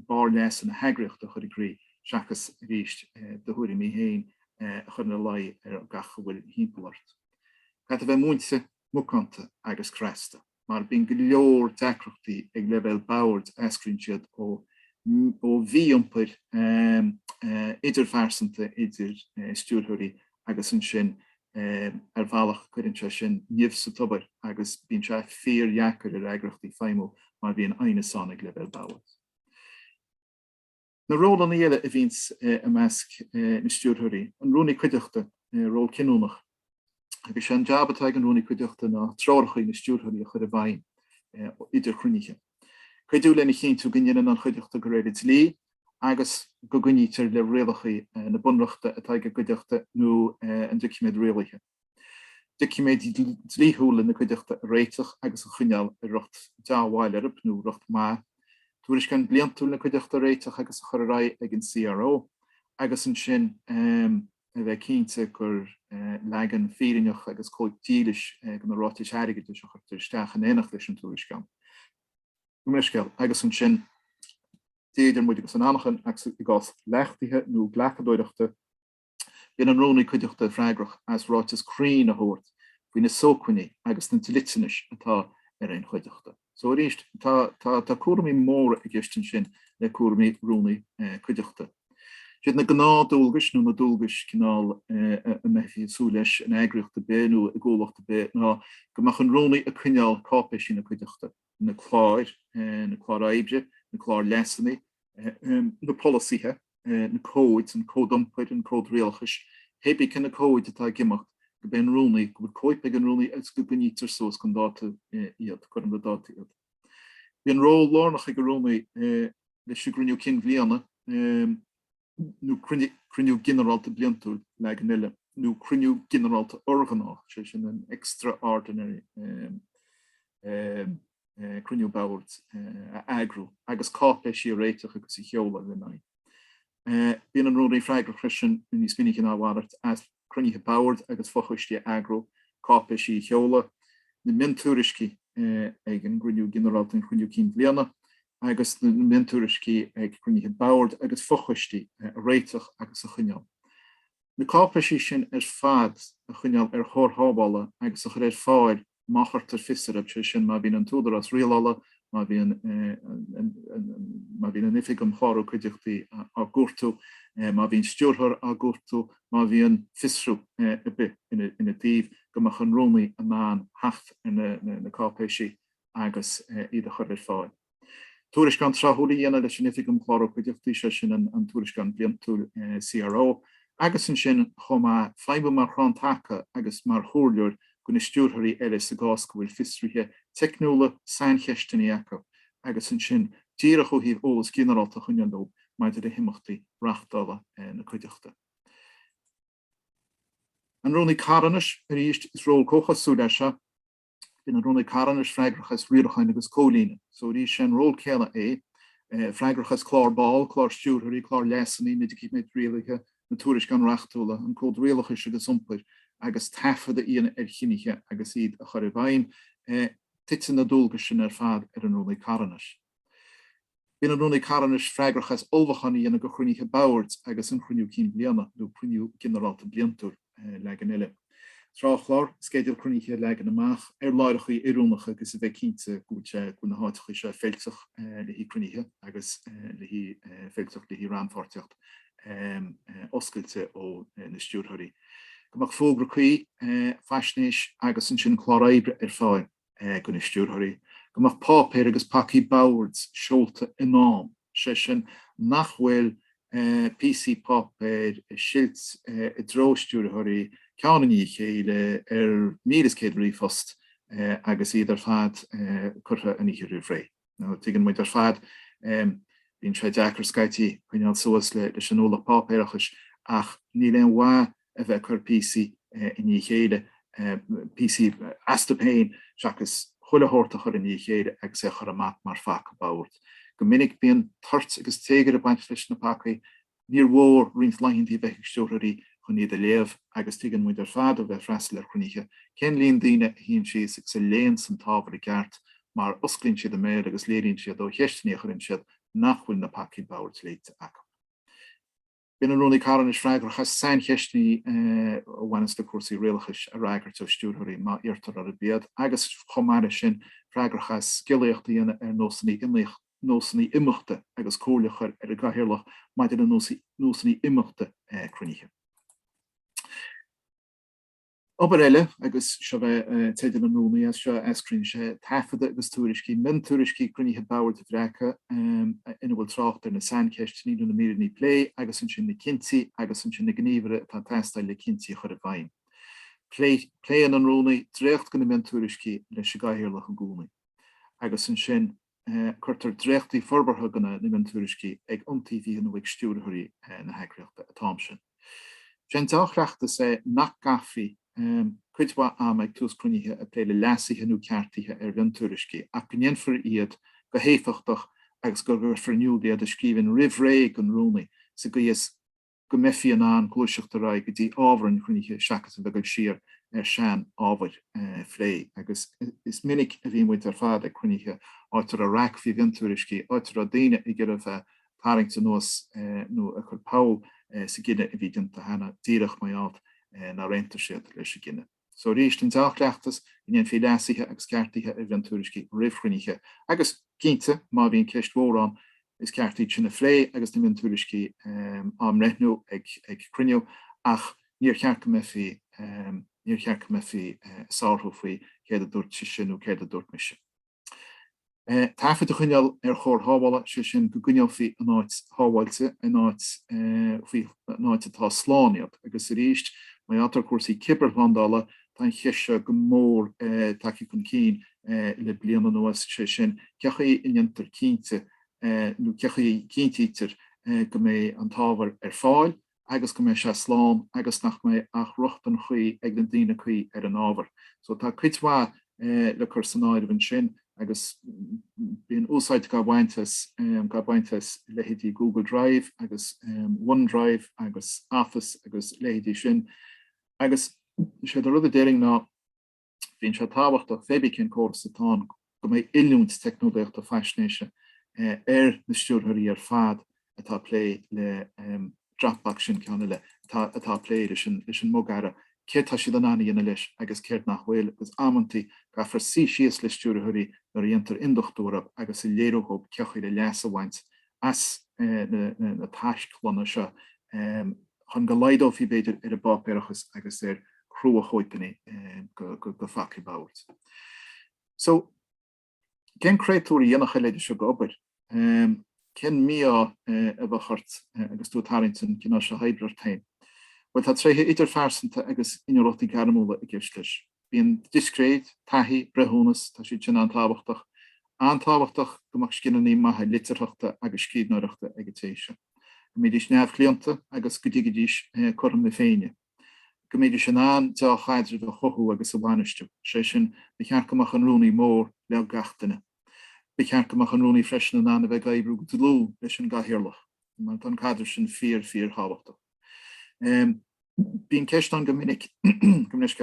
Speaker 1: barr leasa na heagraíochta a chur i gcrích seachas, arís, do thuairimí féin a chur ina luí ar gach a bhfuil thimpeall ort. Caithfidh tú a bheith múinte, macánta agus cneasta. mar bíonn go leor deacrachtaí ag leibhéal boird eascraíonn siad ó ó mhí-iompar idirphearsanta idir stiúrthóirí agus ansin ar bhealach cuireann sé sin nimh sa tobar agus bíonn sé fíordheacair ar eagraíochtaí feidhmiú má bhíonn aighneas ann ag leibhéal boird. Na rólanna eile a bhíonns i measc na stiúrthóirí, an Rúnaí Cuideachta, ról cinniúnach. Agus sé an jab atá ag an Rúnaí Cuideachta ná treorachaí na stiúrthóirí a chur i bhfeidhm idir chruinnithe. Cuidiú lena chinntiú go ndéanann an Chuideachta de réir an dlí agus go gcoinnítear le rialachaí na Bunreachta atá ag an gCuideachta nó an doiciméad rialaithe. doiciméid dlíthiúla na cuideachta a réiteach agus a choinneáil i riocht dea-bhail orthub nó riocht maith, tuairisceán bliantúil na cuideachta a réiteach agus a chur ar aghaidh ag an CRO, agus ansin a bheith cinnte gur leagan fírinneach agus cóip dílis de na ráitis airgeadais a chuirtear isteach in éineacht leis an tuairisceán. Gabh mo leithscéal. Agus ansin, Dia idir muid agus an anachain, agus i gcás leachtaithe nó glacadóireachta, Bíonn an Rúnaí Cuideachta freagrach as ráiteas cruinn a thabhairt faoi na sócmhainní agus na dliteanais atá ar aon chuideachta. So arís, tá cúraimí móra i gceist ansin le cúraimí Rúnaí Cuideachta. Siad na gnáthdualgais nó na dualgais cineál a mbeifí ag súil leis in eagraíocht ar bith nó i gcomhlacht ar bith ná go mbeadh an Rúnaí ag coinneáil cáipéisí na cuideachta, na cláir, na cláir oibre, na cláir leasanna, na polasaithe, na cóid, an cód iompair, an cód rialachais, pé bith cé na cóid atá ag imeacht, go mbeidh an Rúnaí, go bhfuil cóip ag an Rúnaí agus go gcoinnítear suas chun dáta iad, cothrom le dáta iad. Bíonn ról lárnach ag an Rúnaí leis an gCruinniú Cinn Bhliana. nó cruinniú ginearálta bliantúil, leagan eile, nó cruinniú ginearálta urghnách, sé sin an extraordinary cruinniú Boird, a eagrú, agus cáipéisí a réiteach agus a sheoladh ar aghaidh. Bíonn an Rúnaí freagrach freisin, níos minice ná a mhalairt, cruinnithe boird agus fochoistí a eagrú, cáipéisí a sheoladh, na miontuairiscí ag an gCruinniú Ginearálta, an Cruinniú Cinn Bhliana, agus na miontuairiscí ag cruinnithe boird agus fochoistí a réiteach agus a choinneáil. Na cáipéisí sin ar fad a choinneáil ar chóir shábhála agus a chur ar fáil má chuirtear fios orthu, sé sin má bhíonn an tÚdarás Rialála, má bhíonn an Oifig um Chlárú Cuideachtaí á gcuartú, má bhíonn stiúrthóir á gcuartú, má bhíonn fiosrú ar bith ina dtaobh, go mbeadh an Rúnaí in ann theacht ar na cáipéisí agus iad a chur ar fáil. tuairisceán tráthúil a dhéanamh leis an Oifig um Chlárú Cuideachtaí, sé sin an an Tuairisceán Bliantúil CRO, agus ansin chomh maith feidhmiú mar chrann taca agus mar chomhairleoir do na stiúrthóirí eile sa gcás go bhfuil fiosruithe teicniúla, saincheisteanna acu, agus ansin díreach ó thaobh eolas ginearálta a choinneáil dóibh maidir le himeachtaí reáchtála na cuideachta. An Rúnaí Carthanais, arís is ról comhchosúil é seo, Bíonn an Rúnaí Carthanais freagrach as riaracháin agus comhlíonadh, so arís sé an ról céanna é, freagrach as clár ball, clár stiúrthóirí, clár leasanna, na doiciméid rialaithe, na tuairisceáin reachtúla, an cód rialachais agus iompair, agus taifead a dhéanamh ar chinntí agus iad a chur i bhfeidhm. Titeann na dualgais sin ar fad ar an Rúnaí Carthanais. Bíonn an Rúnaí Carthanais freagrach as ullmhúchán a dhéanamh do chruinnithe Boird agus an Cruinniú Cinn Bliana nó Cruinniú Ginearálta Bliantúil, leagan eile. Tráthchlár, sceideal cruinnithe a leagan amach ar láithreachaí oiriúnacha agus a bheith cinnte go bhfuil sé, go bhfuil na háiteachaí seo feiltiúch le haghaidh cruinnithe agus le haghaidh, feiltiúch le haghaidh rannpháirtíocht oscailte ó na Stiúrthóirí. Go mbeadh fógra cuí, faisnéis agus ansin clár oibre ar fáil. do na Stiúrthóirí go mbeadh páipéir agus pacaí boird seolta in am, sé sin nach bhfuil píosaí páipéir ag silt i dtreo Stiúrthóirí ceann i ndiaidh a chéile ar 1,100 ríomhphost agus iad ar fad curtha an oíche roimh ré. tuigeann muid ar fad, bíonn sé deacair scaití coinneáil suas leis an ualach páipéarachais, ach níl aon mhaith a bheith ag cur píosaí i ndiaidh a chéile, píosaí astu féin seachas chuile shórt a chur i ndiaidh a chéile agus é a chur amach mar phaca boird. Go minic bíonn toirt agus téagar ag baint leis na pacaí, Níor mhór roinnt laethanta a bheith ag stiúrthóirí chun iad a léamh, agus tuigeann muid ar fad ó bheith ag freastal ar chruinnithe cén líon daoine a shuíonn síos agus a léann an t-ábhar i gceart mar osclaíonn siad a mbéal agus léiríonn siad ó cheisteanna a chuireann siad nach bhfuil na pacaí boird léite acu. Bíonn an Rúnaí ar ndóigh freagrach as saincheisteanna a bhaineas le cúrsaí rialachais a fhreagairt ó stiúrthóirí, má iarrtar orthu iad, agus chomh maith leis sin, freagrach as scéalaíocht a dhéanamh ar nósanna imeachta. nósanna imeachta agus comhairle a chur ar an gCathaoirleach maidir le nósanna imeachta cruinnithe. Obair eile, agus seo é teideal an Rúnaí, as seo a eascraíonn sé, taifid agus tuairiscí, miontuairiscí cruinnithe Boird a bhreacadh ina bhfuil trácht ar na saincheisteanna nó na míreanna plé agus ansin na cinntí agus ansin na gníomhartha atá ag teastáil le cinntí a chur i bhfeidhm. Pléann an Rúnaí dréacht de na miontuairiscí leis an gCathaoirleach i gcónaí agus ansin, Cuirtear dréachtaí forbartha de na, na miontuairiscí chuig iontaobhaithe nó chuig stiúrthóirí na heagraíochta atá ann ansin. Is é an deá-chleachtas é nach gcaithfí cuid mhaith ama ag tús cruinnithe ag plé le leasuithe nó ceartuithe ar mhiontuairiscí ach go ndéanfar iad go héifeachtach agus go gcuirfear in iúl iad i scríbhinn roimh ré don Rúnaí sa gcaoi is go mbeifí in ann gluaiseacht ar aghaidh go dtí ábhar an chruinnithe seachas a bheith ag dul siar ar shean-ábhair a phlé. Agus is minic a bhí muid ar fad ag cruinnithe, áit a raibh raic faoi mhiontuairiscí, áit a raibh daoine ag iarraidh a bheith ag tarraingt anuas nó ag cur poll sa gcinneadh a bhí déanta cheana, díreach mar gheall nár aontaigh siad leis an gcinneadh. So arís an dea-chleachtas go ndéanfaí leasuithe agus ceartuithe ar mhiontuairiscí roimh chruinnithe, agus cinnte, má bhíonn ceist mhór ann, is ceart iad sin a phlé agus na miontuairiscí á mbreithniú ag cruinniú, ach níor cheart go mbeifí, níor cheart go mbeifí ag sárú faoi céard a dúirt sise nó céard a dúirt mise. taifid a choinneáil ar chóir shábhála, sé sin, go gcoinneofaí in áit shábháilte, in áit faoi, in áit atá slán iad. Agus arís, maidir le cúrsaí cibearshlándála, tá an cheist seo go mór tagtha chun cinn le bliain anuas, sé sin, cé chaoi a ndéantar cinnte, nó cé chaoi a chinntítear go mbeidh an t-ábhar ar fáil, agus go mbeidh sé slán agus nach mbeidh ach rochtain chuí ag na daoine cuí ar an ábhar. So tá cuid mhaith le cur san áireamh ansin agus bíonn úsáid gá baint as, gá baint as leithéidí Google Drive agus OneDrive agus Office agus leithéidí sin agus sé an rud a déarfainn ná Bíonn sé tábhachtach féibí cén córas atá ann go mbeidh oiliúint teicneolaíochta faisnéise ar na stiúrthóirí ar fad atá ag plé le Dropbox, sin ceann eile, atá ag plé leis an mbogearra, céard tá siad in ann a dhéanamh leis agus céard nach bhfuil agus amantaí caithfear suí síos le stiúrthóirí nuair a dhéantar induchtúrú agus a léiriú dhóib cén chaoi le leas a bhaint as na taisclanna seo chun go laghdófaí, b'fhéidir, ar an bpáipéarachas agus ar chruachóipeanna go faic ab áirithe. So, cén créatúr a dhéanfadh a leithide seo go obair? Cén mí-ádh a bheadh ort agus tú ag tarraingt an cineál seo oibre ort féin? Bhuel, tá tréithe idirphearsanta agus inniúlachtaí gairmiúla i gceist leis. Bíonn discréid, taithí, breithiúnas, tá siad sin an-tábhachtach. An-tábhachtach go mbeadh scileanna maithe litearthachta agus scríbhneoireachta ag an té sin. Go mbídís neamhchlaonta agus go dtuigfidís cothrom na Féinne. Go mbídís in ann deá-chaidreamh a chothú agus a bhainistiú. Is é sin, ba cheart go mbeadh an Rúnaí mór le gach duine. Ba cheart go mbeadh an Rúnaí freisin in ann a bheith ag oibriú go dlúth leis an gCathaoirleach. mar tá an caidreamh sin fíor, fíor thábhachtach. Bíonn ceist ann go minic, go minic,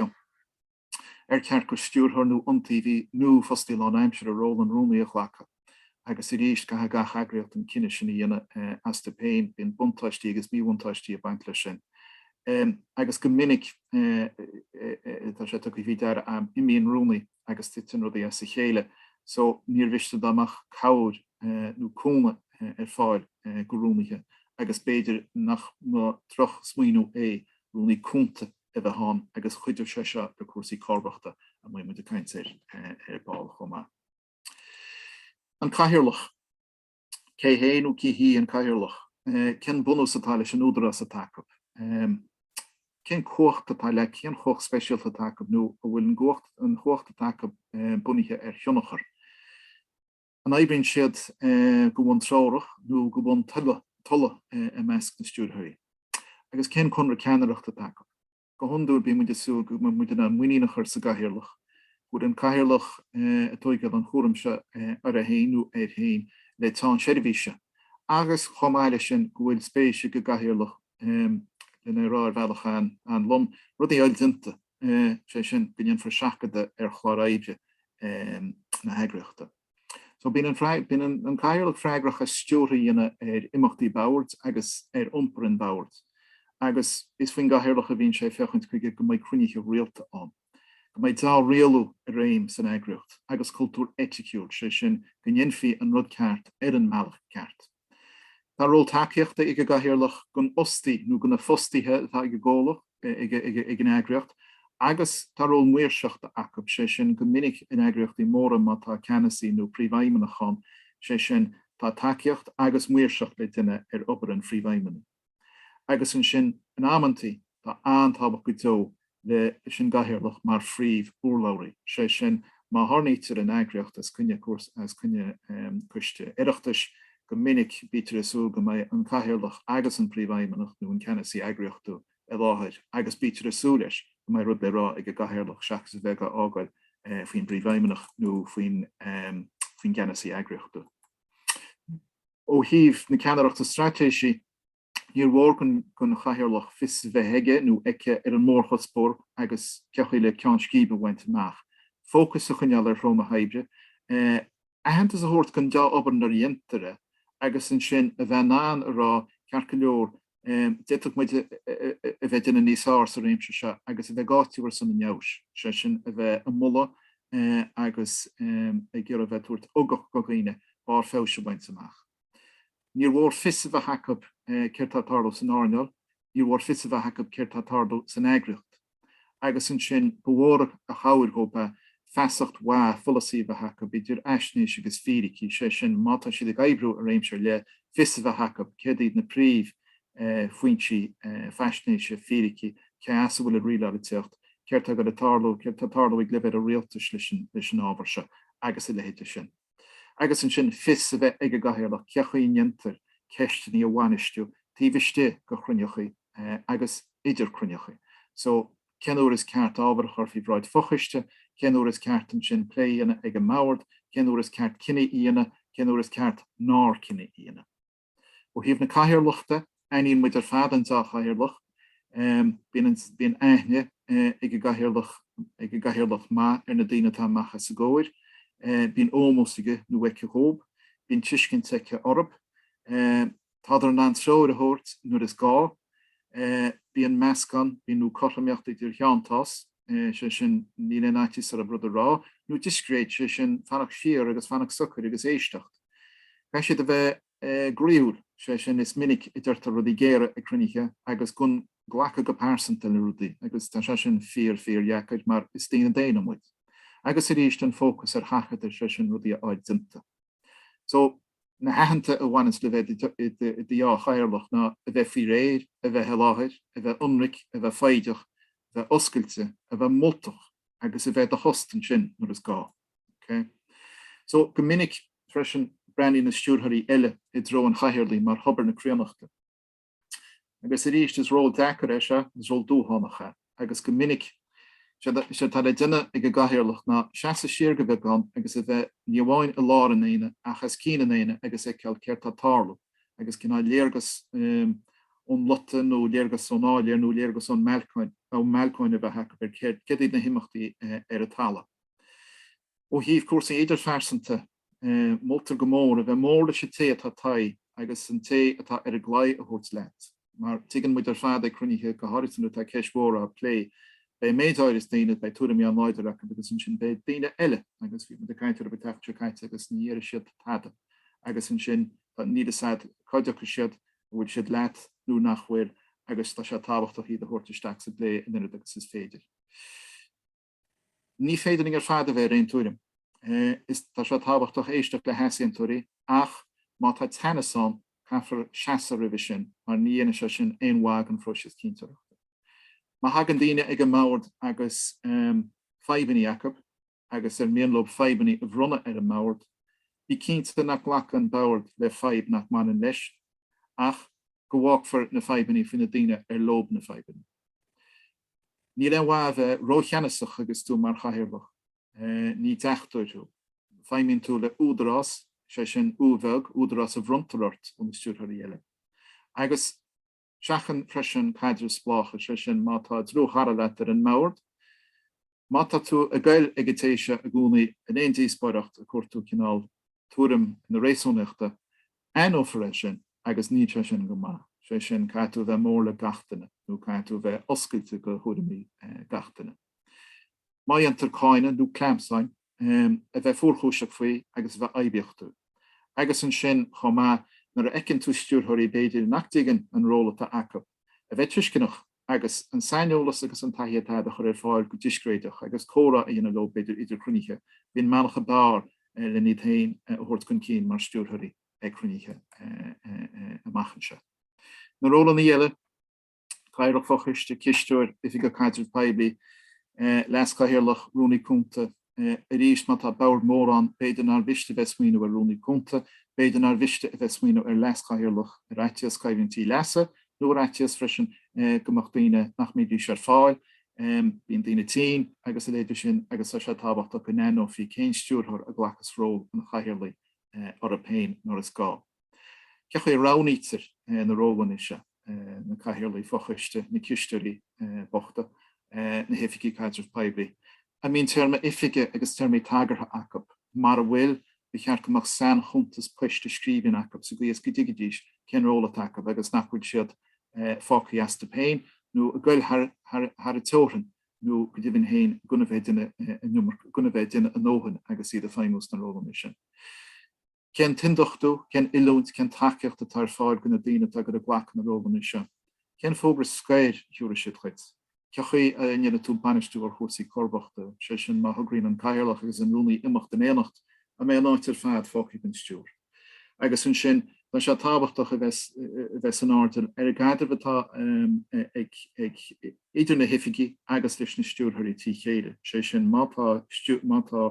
Speaker 1: ar cheart go stiúrthóir nó iontaobhaí nó fostaí lánaimseartha ról an rúnaí a ghlacadh, agus arís, caithfidh gach eagraíocht an cinneadh sin a dhéanamh astu féin. Bíonn buntáistí agus míbhuntáistí ag baint leis sin. Agus go minic, tá sé tugtha faoi deara, imíonn rúnaí agus titeann rudaí as a chéile so níor mhiste dá mbeadh cabhair nó cúnamh ar fáil go rúnaithe agus b'fhéidir nach mba drochsmaoineamh é rúnaí cúnta a bheith ann agus chuideodh sé seo le cúrsaí comharbachta a mbeidh muid ag caint air ar ball chomh maith. An cathaoirleach. Cé hé nó cé hí an cathaoirleach? Cén bunús atá leis an údarás atá acu? Cén cumhacht atá, cén chumhacht speisialta atá acu nó an bhfuil an chumhacht atá acu bunaithe ar thionchar? An oibríonn siad go bun treorach nó go bun tola i measc na stiúrthóirí? Agus cén conradh ceannaireachta atá acu? Go hiondúil bíonn muid ag súil go mbeidh muid in ann muinín a chur sa gcathaoirleach. Go bhfuil an cathaoirleach ag tógáil an cúram seo uirthi féin, nó air féin, le teann seirbhíse, agus chomh maith leis sin go bhfuil spéis ag an gcathaoirleach lena rá ar bhealach an-lom, rudaí a fháil déanta, sé sin go ndéanfar seachadadh ar chlár oibre na heagraíochta. So bíonn an bíonn an an Cathaoirleach freagrach as stiúradh a dhéanamh ar imeachtaí an bhoird agus ar iompar an bhoird agus is faoin gCathaoirleach a bhíonn sé ag féachaint chuige go mbeidh cruinnithe rialta ann, go mbeidh dea-rialú i réim san eagraíocht agus cultúr eiticiúil, sé sin, go ndéanfaí an rud ceart ar an mbealach ceart. Tá ról tacaíochta ag an gcathaoirleach don fhostaí nó do na fostaithe atá ag an gcomhlacht nó ag an eagraíocht, agus tá ról maoirseachta acu, sé sin, go minic in eagraíochtaí móra má tá ceannasaí nó príomhfheidhmeannach ann, sé sin, tá tacaíocht agus maoirseacht le déanamh ar obair an phríomhfheidhmeannaigh. Agus ansin, in amantaí, tá an-tábhacht go deo leis an gcathaoirleach mar phríomh-urlabhraí, sé sin, má tharraingítear an eagraíocht os coinne coiste Oireachtais, go minic bítear ag súil go mbeidh an cathaoirleach agus an príomhfheidhmeannach nó an ceannasaí eagraíochtúil i láthair agus bítear ag súil leis go mbeidh rud le rá ag an gcathaoirleach seachas a bheith á fhágáil faoin bpríomhfheidhmeannach nó faoin gceannasaí eagraíochtúil. Ó thaobh na ceannaireachta straitéisí, níor mhór don Chathaoirleach fios a bheith aige nó aici ar an mórchuspóir agus cén chaoi le ceann scríbe a bhaint amach, fócas a choinneáil ar threo na hoibre, aitheantas a thabhairt don deá-obair nuair a dhéantar é, agus ansin a bheith in ann a rá ceart go leor d'fhéadfadh muid a bheith ag déanamh níos fearr sa réimse seo agus a bheith ag áiteamh ar son an fheabhais, sé sin a bheith ag moladh agus ag iarraidh a bheith ag tabhairt ugach do dhaoine barr feabhais a bhaint amach. Níor mhór fios a bheith acu céard tá ag tarlú san earnáil, níor mhór fios a bheith acu céard tá ag tarlú san eagraíocht. agus ansin ba mhór a chabhair dhóibh é feasacht mhaith pholasaí a bheith acu, idir fhaisnéis agus fíricí, sé sin, má tá siad ag oibriú i réimse ar leith, fios a bheith acu céard iad na príomh foinsí faisnéise, fíricí, cé as a bhfuil an rialálaíocht, céard tá ag tarlú, céard tá ag tarlú ag leibhéal an rialtais leis an ábhar seo agus a leithéide sin. agus ansin fios a bheith ag an gCathaoirleach cé chaoi a ndéantar ceisteanna a bhainistiú taobh istigh de chruinnithe agus idir chruinnithe, so cén uair is ceart ábhar a chur faoi bhráid fochoiste, cén uair is ceart ansin plé a dhéanamh ag an mbord, cén uair is ceart cinneadh a dhéanamh, cén uair is ceart nár cinneadh a dhéanamh. Ó thaobh na cathaoirleachta, aithníonn muid ar fad an deá chathaoirleach. Bíonn aithne ag an gcathaoirleach, ag an gcathaoirleach maith, ar na daoine atá amach os a gcomhair. Bíonn ómós aige nó aici dhób. Bíonn tuiscint aici orthub. Tádar in ann treoir a thabhairt nuair is gá é. Bíonn meascán, bíonn, nó cothromaíocht idir theanntás, sé sin, níl aon fhaitíos orthub rud a rá, nó discréid, sé sin, fanacht siar agus fanacht socair agus éisteacht. Caithfidh siad a bheith groíúil, sé sin, is minic a deirtear rudaí géara ag cruinnithe agus gan glacadh go pearsanta le rudaí, agus tá sé sin fíor, fíordheacair, mar is daoine daonna muid. Agus arís, an fócas ar sheachadadh, sé sin, rudaí a fháil déanta. So, na haitheanta a bhaineanns le bheith i do dhea-chathaoirleach ná a bheith faoi réir, a bheith i láthair, a bheith ionraic, a bheith foighdeach, a bheith oscailte, a bheith moltach agus a bheith i do thost ansin nuair is gá. Ok? So, go minic, freisin, breathnaíonn na stiúrthóirí eile i dtreo an chathaoirligh mar thobar na críonnachta. Agus arís, is ról deacair é seo, is ról dúshlánach é, agus go minic, is é atá le déanamh ag an gcathaoirleach ná seasamh siar de bheagán agus a bheith, ní amháin i lár an aonaigh, ach as cionn an aonaigh agus ag feiceáil céard tá ag tarlú, agus cineál léargas ón lota nó léargas ón áiléar nó léargas ón mbalcóin a bheith acu ar céard iad na himeachtaí ar an talamh. Ó thaobh cúrsaí idirphearsanta de, Moltar go mór a bheith mór leis an té atá istigh agus an té atá ar an gclaí a thabhairt leat, mar tuigeann muid ar fad ag cruinnithe, go háirithe nuair atá ceist mhór á plé, beidh méid áirithe daoine, beidh tuairimí an-láidir acu agus ansin beidh daoine eile agus bhí muid ag caint orthu an tseachtain seo caite agus ní dhéarfaidh siad tada agus ansin níl 'fhios a'd cá dtitfidh siad, an bhfuil siad leat nó nach bhfuil agus tá sé tábhachtach iad a thabhairt isteach sa bplé an oiread agus is féidir. Ní féidir linn ar fad a bheith ar aon tuairim, is tá sé tábhachtach éisteacht le heasaontóirí, ach má tá teannas ann, caithfear seasamh roimhe sin, mar ní dhéanann sé sin aon mhaith don phróiseas cinnteoireachta. Má thagann daoine ag an mbord agus fadhbanna acu, agus ar mian leo fadhbanna a bhronnadh ar an mbord, bí cinnte nach nglacann an bord le fadhb nach mbaineann leis, ach go bhfágfar na fadhbanna faoi na daoine ar leo na fadhbanna. Níl aon mhaith a bheith rócheannasach agus tú mar chathaoirleach. Ní deachtóir thú. Feidhmíonn tú le údarás, is é sin, u bheag, údarás a bhronntar ort ó na stiúrthóirí eile. Agus seachain freisin caidrimh spleácha, is é sin, má tá dlúthchara leat ar an mbord, má tá tú ag goil ag an té seo i gcónaí in aon díospóireacht a cuartú cineál tuairim nó réasúnaíochta Aithneofar é sin, agus níl sé sin go maith, sé sin, caithfidh tú a bheith mór le gach duine, nó caithfidh tú a bheith oscailte go thuairimí gach duine. Má dhéantar cáineadh, nó clamhsán, a bheith fuarchúiseach faoi, agus a bheith oibiachtúil. Agus ansin, chomh maith, nuair a fheiceann tú stiúrthóirí, b'fhéidir, nach dtuigeann an ról atá acu, a bheith tuisceanach, agus an saineolas agus an taithí atá agat a chur ar fáil go discréideach agus comhrá a dhéanamh leo b'fhéidir idir cruinnithe. faoin mbealach ab fhearr le iad féin a thabhairt chun cinn mar stiúrthóirí ag cruinnithe amach anseo. Na rólanna eile, Cathaoirleach Fochoiste, Cisteoir, Oifigeach Caidrimh Poiblí, Leas-Chathaoirleach, Rúnaí Cúnta, arís, má tá bord mór ann, b'fhéidir nár mhiste a bheith ag smaoineamh ar Rúnaí Cúnta, b'fhéidir nár mhiste a bheith ag smaoineamh ar Leas-Chathaoirleach, ar fhaitíos coimhlintí leasa, nó ar fhaitíos freisin go mbeadh daoine nach mbeidís ar fáil, bíonn daoine tinn agus a leithéid de sin, agus tá sé tábhachtach go n-aithneofaí cén stiúrthóir a ghlacas ról an Chathaoirligh orthu féin nuair is gá. Cé chaoi a roghnaítear na rólanna seo, na cathaoirligh fochoiste, na cisteoirí bochta, na hoifigigh caidreamh poiblí? An mbíonn téarma oifige agus téarmaí tagartha acu? Mara bhfuil, ba cheart go mbeadh sainchuntas poist i scríbhinn acu sa gcaoi is go dtuigfidís cén ról atá acu agus nach bhfuil siad fágtha astu féin nó ag goil thar an teorainn nó go deimhin féin gan a bheith ag déanamh a ndóthain agus iad ag feidhmiú sna rólanna sin. Cén t-ionduchtú, cén oiliúint, cén tacaíocht atá ar fáil go na daoine atá ag iarraidh glacadh na rólanna seo? Cén fógra scoir a thiúrfaidh siad chuit? Cé chaoi a ndéanfaidh tú bainistiú ar chúrsaí comharbachta, sé sin má thograíonn an Cathaoirleach agus an Rúnaí imeacht in éineacht, an mbeidh an áit ar fad fágtha gan stiúir? Agus ansin, tá sé tábhachtach a bheith san airdeall ar an gcaidreamh atá ag idir na hoifigigh agus idir na stiúrthóirí trí chéile, sé sin má tá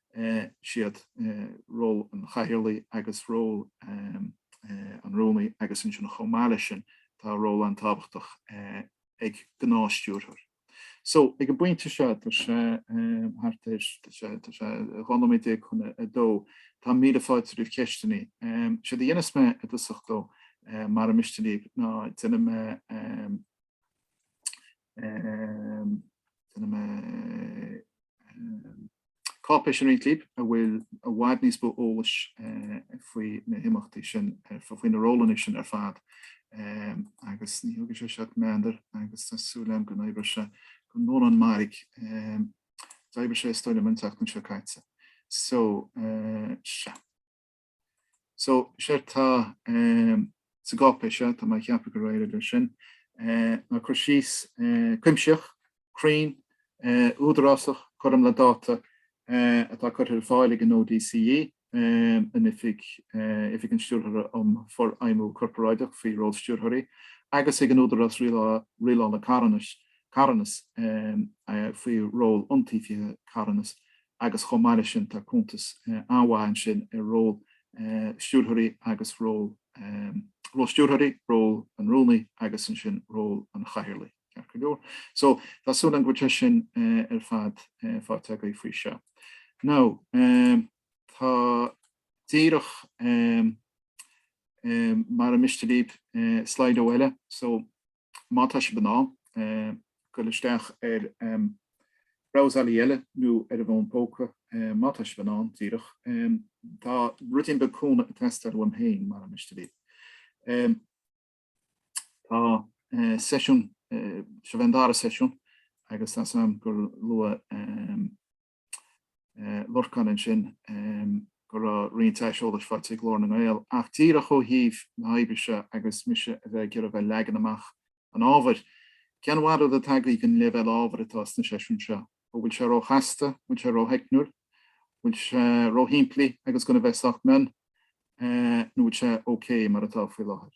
Speaker 1: siad ról an chathaoirligh agus ról an rúnaí agus ansin chomh maith leis sin tá ról an-tábhachtach ag gnáthstiúrthóir. So ag an bpointe seo tá sé thart ar, tá sé, tá sé 12 nóiméad chun a dó, tá míle fáilte roimh cheisteanna. Séard a dhéanas mé i dtosach ó, mara miste libh, ná déanaim mé, Cáipéis i rang a cúig a bhfuil i bhfad níos mó eolais faoi na himeachtaí sin, faoi na rólanna sin ar fad, agus ní thugann sé seo ach meandar agus tá súil agam go n-oibreoidh sé go ndéanann mairg. D'oibrigh sé, is dóigh liom, an tseachtain seo caite. So, sea. So, séard atá, eh, sa gcáipéis seo, tá mé ag ceapadh gur éirigh leis sin, eh, ná cur síos, eh, cuimsitheach, cruinn, eh, údarásach, cothrom le dáta, eh, atá curtha ar fáil ag an ODCE, eh, an Oifig, eh, Oifig an Stiúrthóra um Fhorfheidhmiú Corparáideach faoi ról stiúrthóirí, agus ag an Údarás Rialála, Rialála Carthanais, Carthanas, eh, faoi ról Iontaobhaithe Carthanas, agus chomh maith leis sin tá cuntas an-mhaith ansin ar ról stiúrthóirí agus ról, ról stiúrthóirí, ról an rúnaí agus ansin ról an chathaoirligh, ceart go leor. So, tá súil agam go bhfuil sé sin ar fad faighte agaibh faoi seo. Now, tá díreach mara miste libh Slido eile, so, Má tá sibh in ann goil isteach ar bhrabhsálaí eile nó ar an bhfón póca, má tá sibh in ann, díreach, tá ruidín beag cúnamh ag teastáil uaim féin, mara miste libh. Tá seisiún, seo é an dara seisiún, agus tá súil agam gur luaigh, Lorcán ansin go raibh roinnt aiseolais faighte ag Glór na nGael ach díreach ó thaobh na hoibre seo agus mise a bheith ag iarraidh a bheith leagan amach an ábhair, cén bharúil atá agaibh don leibhéal ábhair atá sna seisiúin seo? An bhfuil sé ró-chasta? Bhfuil sé ró-theicniúil? Bhfuil sé ró-shimplí agus gan a bheith sách mion? Nó bhfuil sé ok mar atá faoi láthair?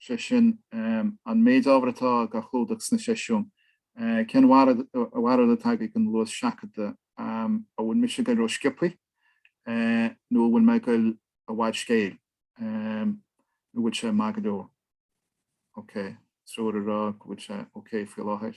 Speaker 1: sé sin an méid ábhar atá dá chlúdach sna seisiúin, cén bharúil atá agaibh don luas seachadta, an bhfuil mise ag goil ró-sciopthaí nó an bhfuil mé ag goil i bhfad scéil, nó an bhfuil sé maith go leor, OK, triúr ag rá go bhfuil sé OK faoi láthair.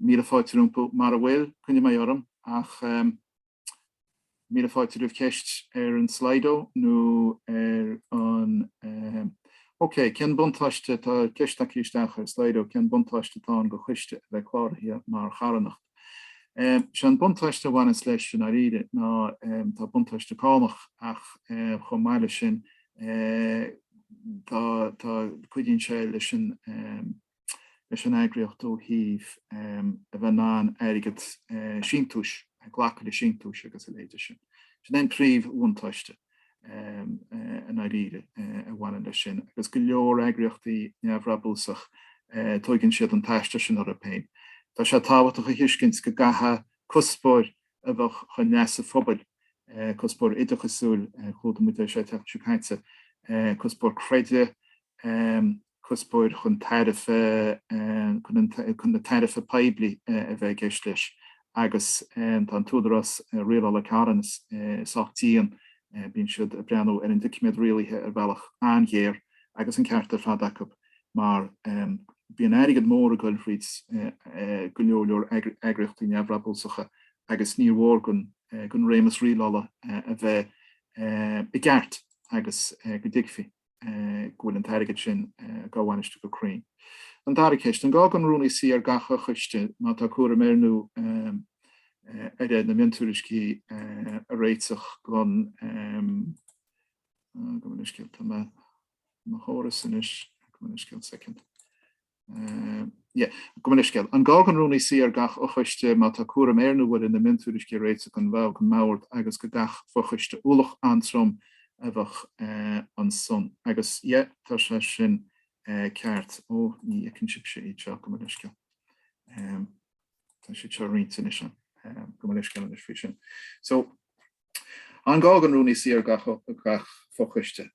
Speaker 1: Míle fáilte rompu, mara bhfuil, coinneoidh mé orm, ach míle fáilte roimh cheist ar an Slido nó ar an OK, cén buntáiste, tá ceist tagtha isteach ar Slido, cén buntáiste atá ann do choiste a bheith cláraithe mar charthanacht? Sé an buntáiste a bhaineas leis, i ndáiríre, ná tá buntáiste cánach, ach chomh maith le sin, tá, tá, cuidíonn sé leis an, leis an eagraíocht ó thaobh a bheith in ann airgead síntiúis, glacadh le síntiúis agus a leithéid sin. Sin é an príomh-bhuntáiste i ndáiríre a bhaineann leis sin, agus go leor eagraíochtaí neamhbhrabúsach, tóigeann siad an t-aistear sin orthu féin. Tá sé tábhachtach a thuiscint go gcaithfeadh cuspóir a bheadh chun leasa phobail, cuspóir oideachasúil, chlúdaigh muid é seo an tseachtain seo caite, cuspóir creidimh, cuspóir chun tairbhe chun na tairbhe poiblí a bheith i gceist leis agus tá an tÚdarás Rialála Carthanas sách dian, bíonn siad ag breathnú ar an doiciméad rialaithe ar bhealach an-ghéar agus an ceart ar fad acu mar bíonn airgead mór ag dul fríd go leor leor eagraíochtaí neamhbhrabúsacha agus níor mhór don réimeas rialála a bheith i gceart agus go dtuigfidh. go bhfuil an t-airgead sin á bhainistiú go cruinn. An dara ceist, an gá don rúnaí suí ar gach fhochoiste má tá cúram air nó uirthi na miontuairiscí a réiteach don Gabh mo leithscéal tá mo chóras anois. Gabh mo leithscéal soicind. An gá don rúnaí suí ar gach fhochoiste má tá cúram air nó uirthi na miontuairiscí a réiteach don bhord don mbord agus do gach fochoiste ualach an-trom a bheadh ansan agus yeah tá sé sin ceart. Ó ní fheiceann sibhse iad seo gabh mo leithscéal. Tá siad seo roinnte anois gabh mo leithscéal anois faoi sin. So An gá don Rúnaí suí ar gach fochoiste,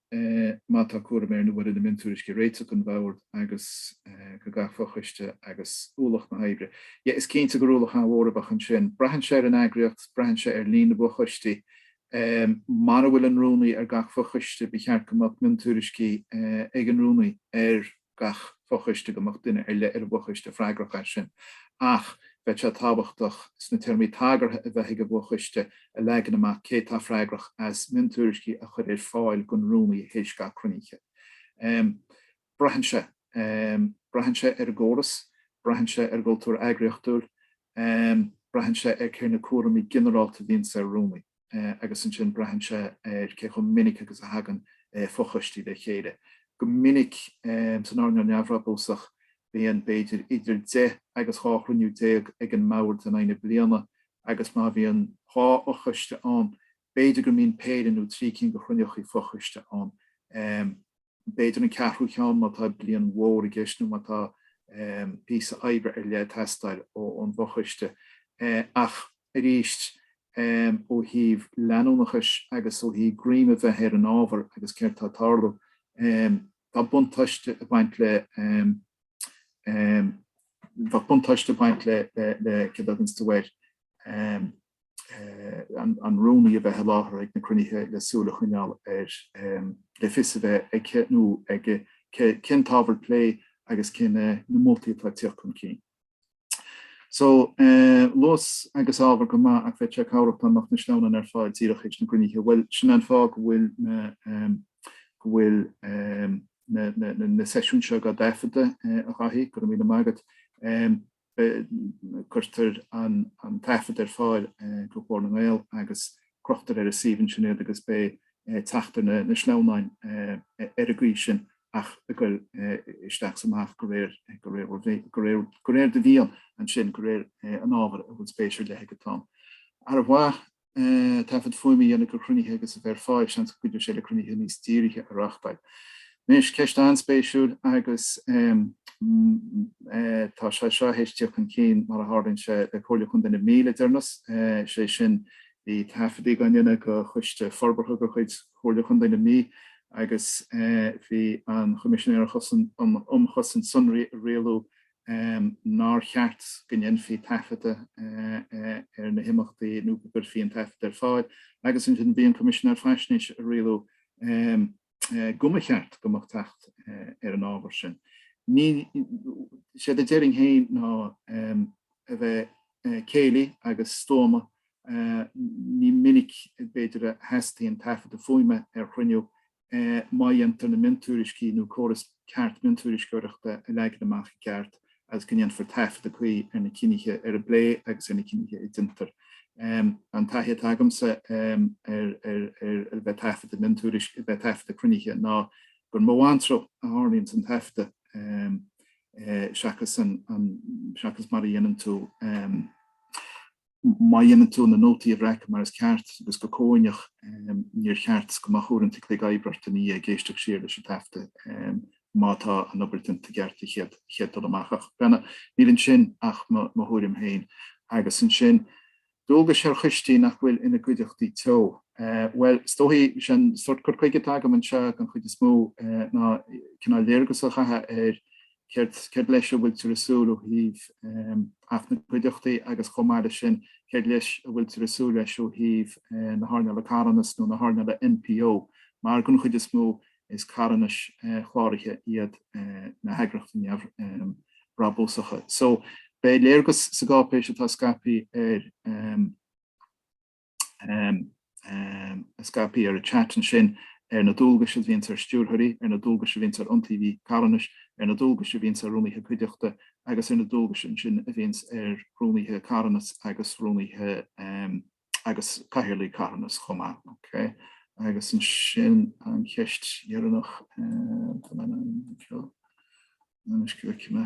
Speaker 1: má tá cúram air nó uirthi na miontuairiscí a réiteach don Bhord agus do gach fochoiste agus ualach na hoibre? Yeah, is cinnte gur ualach an-mhór a bheadh ansin. Braitheann sé ar an eagraíocht, braitheann sé ar líon na bhfochoistí. Mara bhfuil an Rúnaí ar gach fochoiste, ba cheart go mbeadh miontuairiscí ag an Rúnaí ar. gach fochoiste go mbeadh duine ar leith ar an bhfochoiste freagrach as sin, ach bheadh sé tábhachtach sna téarmaí tagartha a bheadh ag an bhfochoiste a leagan amach cé atá freagrach as miontuairiscí a chur ar fáil don Rúnaí théis gach cruinnithe. Braitheann sé. Braitheann sé ar an gcóras. Braitheann sé ar an gcultúr eagraíochtúil. Braitheann sé ar cé na cúraimí ginearálta a bhíonns ar Rúnaí. agus ansin braitheann sé ar cé chomh minic agus a thagann fochoistí le chéile. Go minic, san earnáil neamhbhrabúsach, bíonn b'fhéidir idir deich agus dhá chruinniú déag ag an mbord in aghaidh na bliana agus má bhíonn dhá fhochoiste ann, b'fhéidir go mbíonn péire nó trí cinn de chruinneachaí fochoiste ann. b'fhéidir an ceathrú cheann má tá bliain mhór i gceist nó má tá píosa oibre ar leith ag teastáil ón bhfochoiste. Ach arís, ó thaobh leanúnachais agus ó thaobh greim a bheith ar an ábhar agus céard tá ag tarlú, tá buntáiste ag baint le, tá buntáiste ag baint le céard a thaganns de bharr. an rúnaí a bheith i láthair ag na cruinnithe le súil a choinneáil air le fios a bheith aici nó aige cén t-ábhar plé agus cé na moltaí atá ag tíocht chun cinn. So, luas agus ábhar go maith ach bheadh sé cabhrach dá mbeadh na sleamhnáin ar fáil díreach i ndiaidh na gcruinnithe. Bhuel, sin an fáth go bhfuil na, go bhfuil na, na, na seisiúin seo á dtaifeadadh, a Dhaithí, go raibh míle maith agat. Cuirtear an taifead ar fáil do Ghlór na nGael agus crochtar ar an suíomh ansin iad agus beidh teacht ar na sleamhnáin ar an gcaoi sin ach a ghoil isteach is amach de réir do mhian ansin, de réir an ábhair a bhfuil spéis ar leith agat ann. Ar mhaith taifead fuaime a dhéanamh de chruinnithe agus a bheith ar fáil, seans go gcuideodh sé le cruinnithe níos dírithe a reáchtáil. Anois, ceist an-spéisiúil agus tá sé seo théis dul chun cinn mar a tharlaíonn sé le Comhairle Chontae na Mí le deireanas, sé sin, bhí taifeadtaí dhá ndéanamh do choiste forbartha de chuid Chomhairle Chontae na Mí agus bhí an Coimisinéir um Chosaint Sonraí ag rialú nár cheart go ndéanfaí taifeadadh ar na himeachtaí nó nach gcuirfí an taifead ar fáil agus ansin bhí an Coimisinéir Faisnéise ag rialú go mba cheart go mbeadh teacht ar an ábhar sin. Is é a déarfainn féin ná a bheith céillí agus stuama, ní minic b'fhéidir a theastaíonn taifeadadh fuaime ar chruinniú má dhéantar na miontuairiscí nó córas ceart miontuairisceoireachta a leagan amach i gceart agus go ndéanfar taifeadadh cuí ar na cinntí, ar an bplé agus ar na cinntí a déantar. An taithí atá agamsa ar a bheith ag taifeadadh miontuairisc, a bheith ag taifeadadh cruinnithe ná gur mó anró a tharraingíonns an taifeadadh seachas mar a dhéanann tú. Má dhéanann tú na nótaí a bhreacadh mar is ceart agus go comhuaineach, níor cheart go mbeadh uaireanta cloig oibre ort ina dhiaidh ag éisteacht siar leis an taifeadadh má tá an obair déanta i gceart an chéad dul amach. Ach breathnaigh, níl ansin ach mo thuairim féin. Agus ansin, dualgais ar choistí nach bhfuil ina gcuideachtaí teo. Bhuel, is dóigh, an sórt cur chuige atá agam anseo den chuid is mó ná cineál léargas a chaitheamh ar Céard leis a bhfuiltear ag súil ó thaobh Acht na gCuideachtaí agus, chomh maith leis sin, céard leis a bhfuiltear ag súil leis ó thaobh na hearnála carthanas nó na hearnála NPO, mar den chuid is mó is carthanais chláraithe iad na heagraíochtaí neamhbhrabúsacha. So, beidh léargas sa gcáipéis atá scaipthe ar scaipthe ar an chat ansin, ar na dualgais a bhíonns ar stiúrthóirí, ar na dualgais a bhíonns ar iontaobhaithe carthanais, ar na dualgais a bhíonns ar rúnaithe cuideachta agus ar na dualgais ansin a bhíonns ar rúnaithe carthanas agus rúnaithe agus cathaoirligh carthanas chomh maith. Ok. Agus ansin an cheist dheireanach, tá mé anseo anois go bhfeicfidh mé.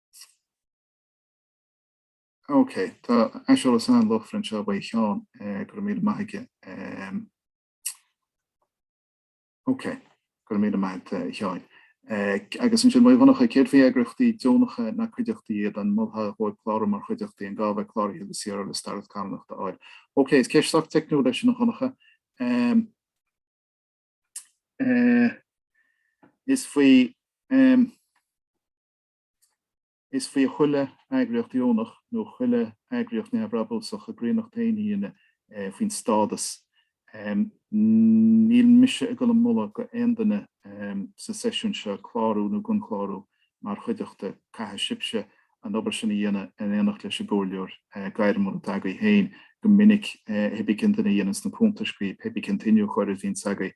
Speaker 1: Ok, tá aiseolas an-luachmhar anseo uaidh Sheán, go raibh míle maith aige. Ok, go raibh míle maith agat a Sheáin. Agus ansin uaidh Dhonncha, céard faoi eagraíochtaí deonacha nach cuideachtaí iad, an molfá dóibh clárú mar chuideachtaí an gá a bheith cláraithe le CRO le stádas cánachta a fháil? Ok, is ceist sách teicniúil í sin a Dhonncha. Is faoi Is faoi chuile eagraíocht dheonach nó chuile eagraíocht neamhbhrabúsach a gcríonnacht féin a dhéanamh faoin stádas. Níl mise ag dul a mholadh go aon duine sa seisiún seo clárú nó gan clárú mar chuideachta, caithfidh sibhse an obair sin a dhéanamh in éineacht leis an gcomhairleoir gairmiúil atá agaibh féin. Go minic, pébí cén duine a dhéananns na cuntais dhaoibh, pébí cén t-iniúchóir a bhíonns agaibh,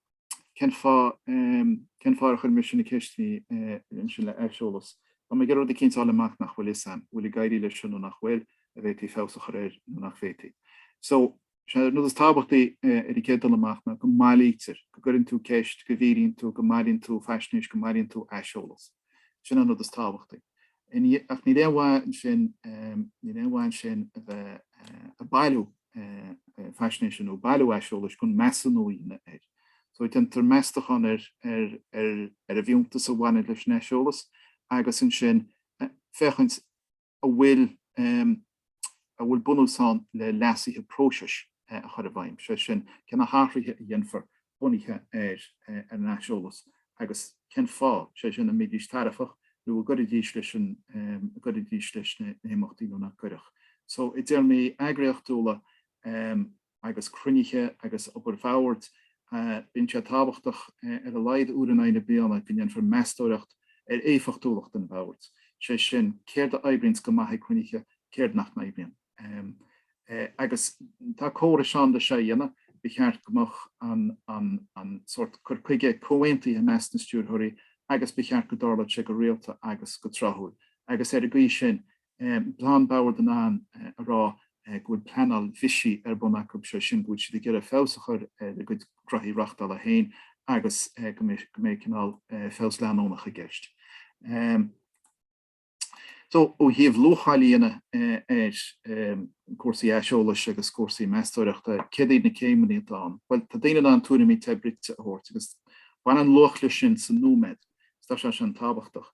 Speaker 1: cén fáth cén fáth ar chuir mise na ceisteannaí ansin le aiseolas. Tá mé ag iarraidh rud eicínt a fháil amach nach bhfuil 'fhios a'm, bhfuil ag éirí leis seo nó nach bhfuil, a' bhféadfaí feabhas a chur air nó nach bhféadfaí. So, is é an rud is tábhachtaí ar an gcéad dul amach ná go mbailítear, go gcuireann tú ceist, go bhfiafraíonn tú, go mbailíonn tú faisnéis, go mbailíonn tú aiseolas. Sin an rud is tábhachtaí. Ach níl aon mhaith ansin níl aon mhaith ansin a bheith ag bailiú faisnéise nó bailiú aiseolais gan measúnú a dhéanamh air. So déantar meastachán ar ar ar ar an bhfiúntas a bhaineann leis an aiseolas agus ansin féachaint an bhfuil an bhfuil bunús ann le leasuithe próisis a chur i bhfeidhm, sé sin, cé na hathruithe a dhéanfar bunaithe ar an aiseolas agus cén fáth, sé sin, an mbeidís tairbheach nó an gcuirfidís leis an an gcuirfidís leis na himeachtaí nó nach gcuirfeadh. So, i dtéarmaí eagraíochtúla, agus cruinnithe agus obair Bhoird, bíonn sé tábhachtach ar a laghad uair in aghaidh na bliana go ndéanfar meastóireacht ar éifeachtúlacht an Bhoird, is é sin, céard a oibríonns go maith ag cruinnithe, céard nach n-oibríonn. Agus tá córais ann le seo a dhéanamh. Ba cheart go mbeadh an sórt cur chuige comhaontaithe i measc na Stiúrthóirí agus ba cheart go dtarlódh sé go rialta agus go tráthúil, agus ar an gcaoi sin Tá an Bord in ann a rá go bhfuil pleanáil bhisigh ar bun acu, sé sin, go bhfuil siad ag iarraidh feabhas a chur ar a gcuid graithí reachtála féin agus go mbeidh cineál feabhas leanúnach i gceist. So, ó thaobh luacháil a dhéanamh ar chúrsaí aiseolais agus cúrsaí meastóireachta, céard iad na céimeanna atá ann? Bhuel, tá daoine in ann tuairimí te bruite a thabhairt agus baineann luach leis sin sa nóiméad. agus tá sé sin tábhachtach.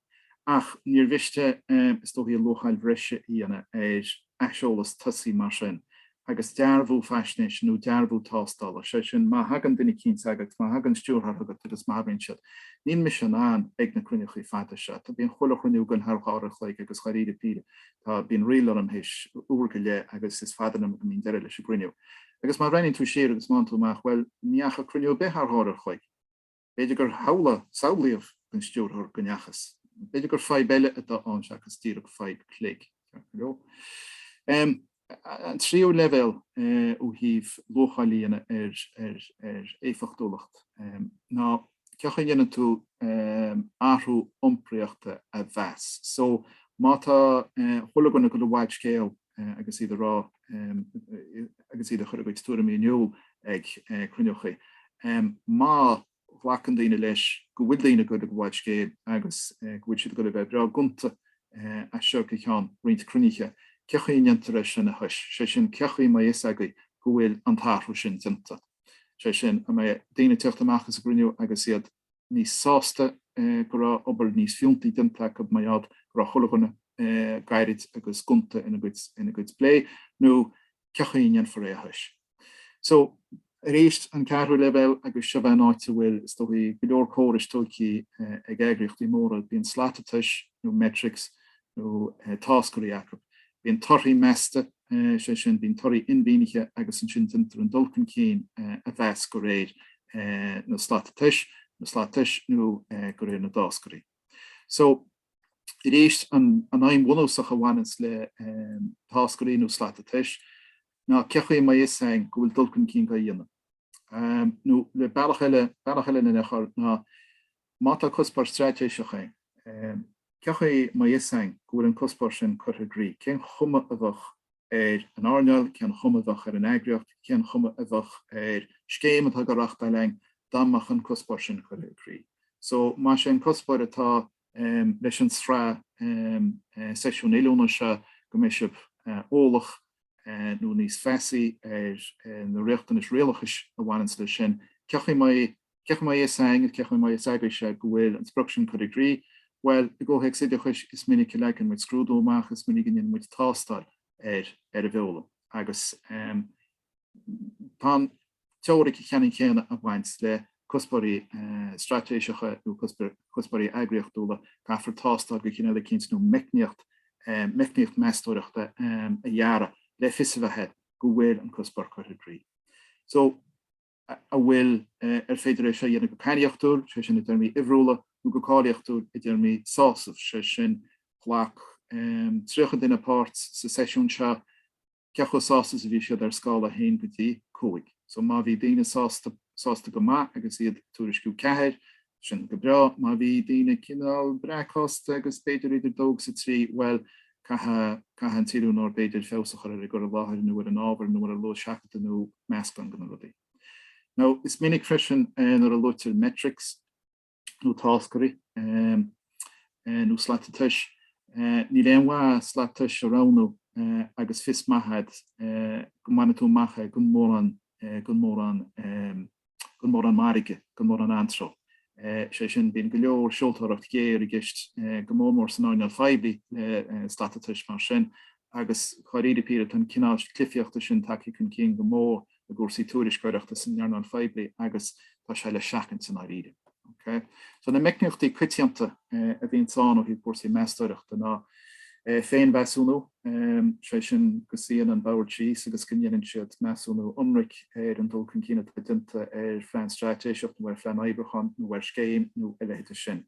Speaker 1: Ach níor mhiste, is dóichí, luacháil bhreise a dhéanamh ar aiseolas tosaigh mar sin agus dearbhú faisnéise nó dearbhú tástála, sé sin, má thagann duine eicínt agat, má thagann stiúrthóir chugat agus má abraíonn siad. Níl mise in ann ag na cruinniúchaí fada seo. Tá, bíonn chuile chruinniú againn thar dhá uair an chloig agus dháiríre píre, tá, bíonn ríl orm théis uair go leith agus is fada liom go mbíonn deireadh leis an gcruinniú. Agus má bhreathnaíonn tú siar agus má fhaigheann tú amach, bhuel, ní dheachaigh cruinniú ar bith thar dhá uair an chloig. B'fhéidir gur shamhlaigh, samhlaíodh, don Stiúrthóir go ndeachthas. B'fhéidir gur fadhb eile atá ann seachas díreach fadhb cloig, ceart go leor. An tríú leibhéal ó thaobh luacháil a dhéanamh ar éifeachtúlacht ná cé chaoi a ndéanann tú athrú iompraíochta a mheas. So, má tá, chuile dhuine ag gabháil i bhfad scéil, agus iad a rá agus iad a chur a gcuid tuairimí in iúl ag cruinniúchaí. Má ghlacann daoine leis go bhfuil daoine ag gabháil i bhfad scéil agus go bhfuil siad ag dul a bheith breá gonta as seo go ceann roinnt cruinnithe, cé chaoi a ndéantar é sin a thomhas, sé sin, cé chaoi a mbeidh a fhios agaibh go bhfuil an t-athrú sin déanta, sé sin, daoine ag teacht amach as an gcruinniú agus iad. níos sásta go raibh obair níos fiúntaí déanta acu mar gheall go raibh chuile dhuine gairid agus gonta ina gcuid plé, nó cé chaoi a ndéanfar é a thomhas? So, arís, an ceathrú leibhéal, agus seo bheith an áit a bhfuil, is dóigh, go leor córais tógtha ag eagraíochtaí móra, bíonn slata tomhais, nó metrics, nó táscairí acu. Bíonn torthaí measta. sé sin, bíonn torthaí inmhianaithe agus ansin déantar an dul chun cinn a mheas de réir na slata tomhais, na slata tomhais nó de réir na dtáscairí. So, arís, an aidhm bhunúsach a bhaineanns le táscairí nó slata tomhais ná cé chaoi a mbeidh a fhios againn go bhfuil dul chun cinn á dhéanamh. Nó le bealach eile, bealach eile lena chur ná, Má tá cuspóir straitéiseach ann, cé chaoi a mbeidh a fhios againn go bhfuil an cuspóir sin curtha i gcrích. Cén chuma a bheadh ar an earnáil, cén chuma a bheadh ar an eagraíocht, cén chuma a bheadh ar scéim atá dhá reáchtáil againn dá mbeadh an cuspóir sin curtha i gcrích? So, más é an cuspóir atá leis an sraith seisiún oiliúna seo go mbeidh sibh eolach nó níos feasaí ar na riachtanais rialachais a bhaineanns leis sin, cé chaoi a mbeidh Cé chaoi a mbeidh a fhios againn, cé chaoi a mbeidh a fhios agaibhse go bhfuil an sprioc sin curtha i gcrích? Bhuel, i gcomhthéacs oideachais, is minic a leagann muid scrúdú amach, is minic a ndéanann muid tástáil ar an bhfoghlaim, agus tá an teoiric cheannann chéanna ag baint le cuspóirí straitéiseacha nó cuspóirí eagraíochtúla, caithfear tástáil de chineál eicínt nó meicníocht, meicníocht mheastóireachta a dhearadh le fios a bheith air go bhfuil an cuspóir curtha i gcrích. So. an bhfuil ar féidir é seo a dhéanamh go cainníochtúil, sé sin, i dtéarmaí uimhriúla, nó go cáilíochtúil, i dtéarmaí sásaimh, sé sin, ghlac 30 duine páirt sa seisiún seo, cé chomh sásta is a bhí siad ar scála 1 go dtí 5? So má bhí daoine sásta go maith agus iad ag tuairisciú 4, Sin go breá, má bhí daoine cineál breacshásta agus b'fhéidir idir dó agus a trí, bhuel, caithfidh an t-oiliúnóir b'fhéidir feabhas a chur ar a gcur i láthair nó ar an ábhar nó ar a luas seachadta nó meascán de na rudaí. Now, is minic freisin nuair a luaitear metrics nó táscairí nó slata tomhais, níl aon mhaith slat tomhais a roghnú agus fios maith agat go mbainfidh tú amach é gan mórán gan mórán mairge, gan mórán anró. Sé sin, bíonn go leor seoltóireacht ghéar i gceist, go mór mór san earnáil phoiblí le slata tomhais mar sin, agus dáiríre píre, tá an cineál cluichíochta sin tagtha chun cinn go mór i gcúrsaí tuairisceoireachta san earnáil phoiblí agus tá sé le seachaint i ndáiríre. Ok. So na meicníochtaí coitianta a bhíonns ann ó thaobh cúrsaí meastóireachta ná féinmheasúnú, sé sin go suíonn an bord síos agus go ndéanann siad measúnú ionraic ar an dul chun cinn atá déanta ar phlean straitéiseach nó ar phlean oibriúcháin nó ar scéim nó a leithéide sin.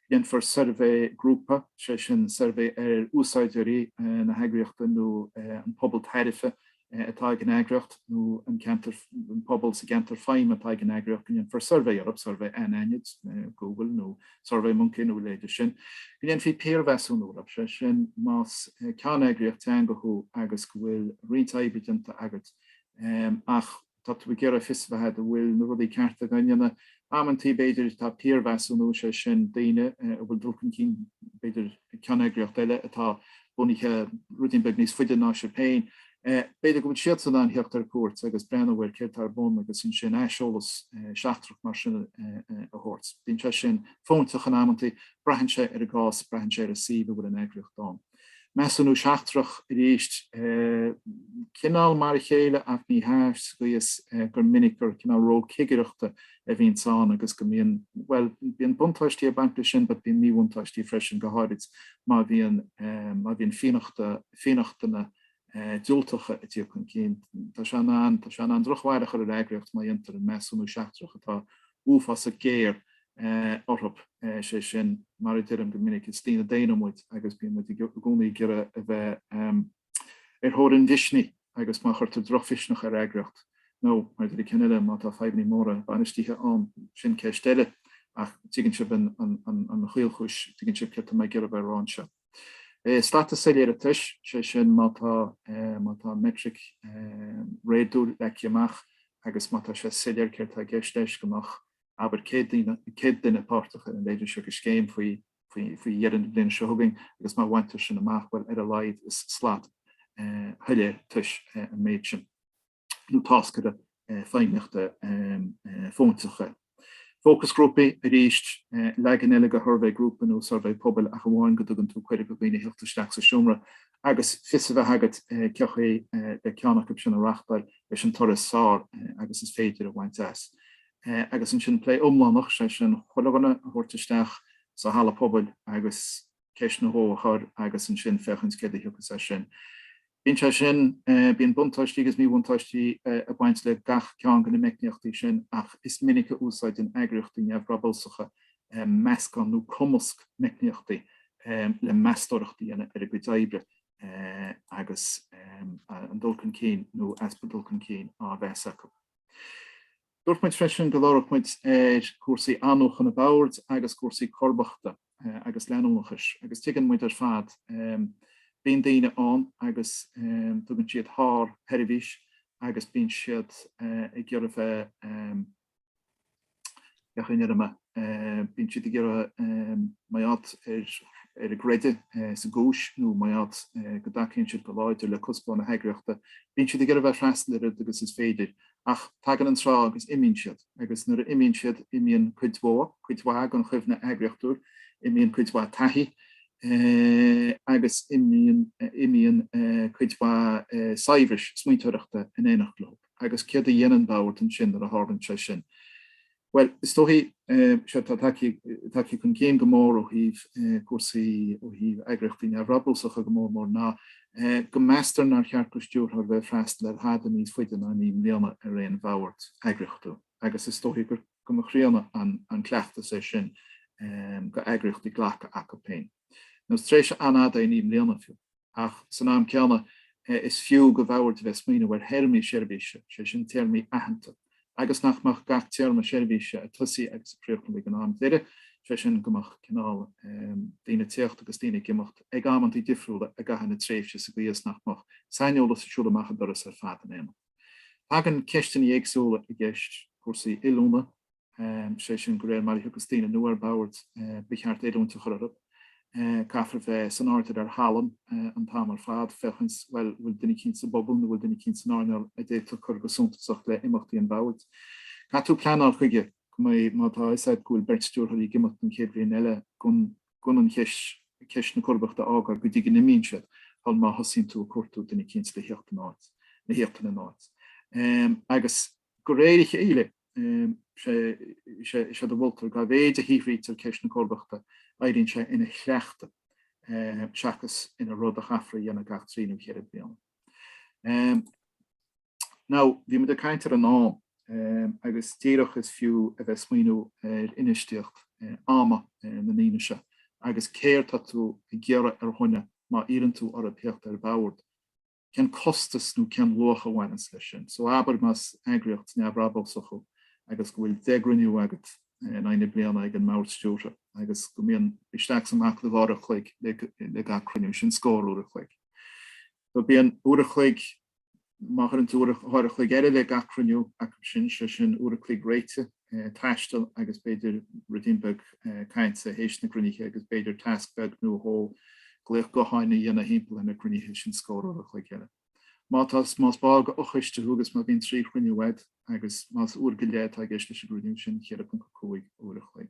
Speaker 1: Go ndéanfar suirbhé grúpa, sé sin suirbhé ar úsáideoirí na heagraíochta nó an pobal tairbhe atá ag an eagraíocht nó an ceantar, an pobal sa gceantar feidhme atá ag an eagraíocht go ndéanfar suirbhé orthu, suirbhé anaithnid, Google nó Survey Monkey nó a leithéide sin, go ndéanfaí piarmheasúnú orthu, sé sin más ceanneagraíocht teanga thú agus go bhfuil roinnt oibre déanta agat ach, tá tú ag iarraidh fios a bheith agat an bhfuil na rudaí cearta againn. In amanntaí, b'fhéidir, tá piarmheasúnú, is é sin, daoine a bhfuil dul chun cinn, b'fhéidir, ag ceanneagraíocht eile atá bunaithe ruidín beag níos faide ná sibh féin. B'fhéidir go bhfuil siadsan in ann thíocht ar cuairt agus breathnú ar céard tá ar bun agus ansin aiseolas seachtrach mar sin a thabhairt. Bíonn sé sin fóinteach in amanntaí, braitheann sé ar an gcás, braitheann sé ar an suíomh a bhfuil an eagraíocht ann. Measúnú seachtrach arís. Cineál mar a chéile ach ní hea, gidh is gur minic gur cineál ról cigireachta a bhíonns ann agus go mbíonn, bhuel, bíonn buntáistí ag baint leis sin but bíonn míbhuntáistí freisin, go háirid má bhíonn, má bhíonn fianachta, fionnachtana diúltacha ag tíocht chun cinn. Tá sé in ann, tá sé in ann drochbhail a chur ar eagraíocht má dhéantar an measúnú seachtrach atá uafásach géar orthu, sé sin, mar a deirim go minic, is daoine daonna muid agus bíonn muid i gcónaí ag iarraidh a bheith ar thóir an mhisnigh agus má chuirtear drochmhisneach ar eagraíocht, nó, mar a deirim ceann eile, má tá fadhbanna móra bainistithe ann, sin ceist eile, ach tuigeann sibh an chaolchúis, tuigeann sibh céard atá mé ag iarraidh a bheith a rá anseo. Is slata soiléire tomhais, sé sin, má tá, má tá meitric réadúil leagtha amach agus má tá sé soiléir céard atá i gceist leis, go mbeadh abair céad duine, céad duine páirteach ina leithéide seo de scéim faoi, faoi, faoi dheireadh na bliana seo chugainn agus má bhaintear sin amach, bhuel, ar a laghad is slat shoiléir tomhais an méid sin. nó táscairí feidhmíochta fóinteacha. Fócasghrúpaí, arís, leagan eile de shuirbhé grúpa nó suirbhé pobail ach amháin go dtugann tú cuireadh do dhaoine theacht isteach sa seomra agus fios a bheith agat cé chaoi le ceann acu sin a reáchtáil leis an toradh is fearr agus is féidir a bhaint as. Agus ansin plé iomlánach, sé sin, chuile dhuine a thabhairt isteach sa halla pobail agus. ceist nó dhó a chur agus ansin féachaint céard a thiocfas as sin. Bíonn sé sin, bíonn buntáistí agus míbhuntáistí ag baint le gach ceann de na meicníochtaí sin ach is minic a úsáideann eagraíochtaí neamhbhrabúsacha meascán nó cumasc meicníochtaí le meastóireacht a dhéanamh ar a gcuid oibre agus an dul chun cinn nó easpa dul chun cinn á mheas acu. Dúirt muid freisin go labharfadh muid ar chúrsaí athnuachana boird agus cúrsaí comharbachta. agus leanúnachais, agus tuigeann muid ar fad, bíonn daoine ann agus tugann siad thar sheirbhís agus bíonn siad ag iarraidh bheith, bheadh aon fhoirm ann, bíonn siad ag iarraidh mar gheall ar a gcreideamh sa gcúis nó mar gheall go dtacaíonn siad go láidir le cuspóir na heagraíochta, bíonn siad ag iarraidh bheith freastal an oiread agus is féidir Ach tagann an tráth agus imíonn siad, agus nuair a imíonn siad, imíonn cuid mhór, cuid mhaith den chuimhne eagraíochtúil, imíonn cuid mhaith taithí agus imíonn cuid mhaith saibhris smaointeoireachta in éineacht leo. Agus céard a dhéanann bord ansin nuair a tharlaíonn sé sin? Bhuel, is dóichí, séard atá tagtha chun cinn go mór ó thaobh cúrsaí, ó thaobh eagraíochtaí neamhbhrabúsacha go mór mór, ná go meastar nár cheart do stiúrthóir bheith ag freastal ar thada níos faide ná naoi mbliana ar aon bhord eagraíochtúil. Agus is dóichí go mba chríonna an cleachtas é sin do eagraíochtaí glacadh chucu féin. Nó is tréimhse an-fhada é naoi mbliana fiú. Ach san am céanna, is fiú do bhord a bheith ag smaoineamh ar théarmaí seirbhíse, sé sin téarmaí aitheanta, agus nach mbeadh gach téarma seirbhíse ag tosaí agus ag críochnú ag an am deiridh, sé sin go mbeadh cineál daoine ag tíocht agus daoine ag imeacht ag amanntaí difriúla i gcaitheamh na tréimhse sa gcaoi is nach mbeadh saineolas ag siúl amach an doras ar fad in aon am. Tagann ceisteannaí éagsúla i gceist, cúrsaí oiliúna, sé sin go réir mar a thiocfas daoine nua ar bhord, ba cheart oiliúint a chur orthu. Caithfear a bheith san airdeall ar thallann an t-am ar fad, féachaint, bhuel, bhfuil duine eicínt sa bpobal nó bhfuil duine eicínt san earnáil a d'fhéadfadh cur go suntasach le imeachtaí an bhoird. Caithfidh tú pleanáil chuige, go mbeidh, má tá a fhios a'd go bhfuil beirt stiúrthóirí ag imeacht an chéad bhliain eile, gan an cheist na comharbachta a fhágáil go dtí go n-imíonn siad, shul má thosaíonn tú ag cuartú duine eicínt le thíocht ina n-áit. Agus. De réir a chéile, is é de Bhulter, dá mhéid a shaothraítear ceist na comharbachta, éiríonn sé ina chleachtadh seachas ina rud a chaithfear a dhéanamh gach trí nó ceithre bliana. Now, bhí muid ag caint ar an am, agus díreach is fiú a bheith ag smaoineamh ar infheistíocht ama na ndaoine seo agus céard tá tú ag iarraidh ar dhuine má iarrann tú orthu theacht ar bhord. cén costas nó cén luach a bhaineanns leis sin. So abair más eagraíocht neamhbhrabúsach thú agus go bhfuil deich gcruinniú agat in aghaidh na bliana ag an mbord stiúrtha agus go mbíonn isteach is amach le dhá uair a chloig le gach cruinniú, sin scór uair a chloig. So bíonn uair a chloig, má chuireann tú dhá uair a chloig eile le gach cruinniú acu sin, sé sin uair a chloig réitigh, taistil agus b'fhéidir ruidín beag cainte théis na gcruinnithe agus b'fhéidir tasc beag nó dhó glaoch gutháin a dhéanamh thimpeall ar na cruinnithe sin scór uair an chloig eile. Má tá, más ball de fhochoiste thú agus má bhíonn trí chruinniú agat agus más uair go leith atá i gceist leis an gcruinniú sin, 4.5 uair an chloig.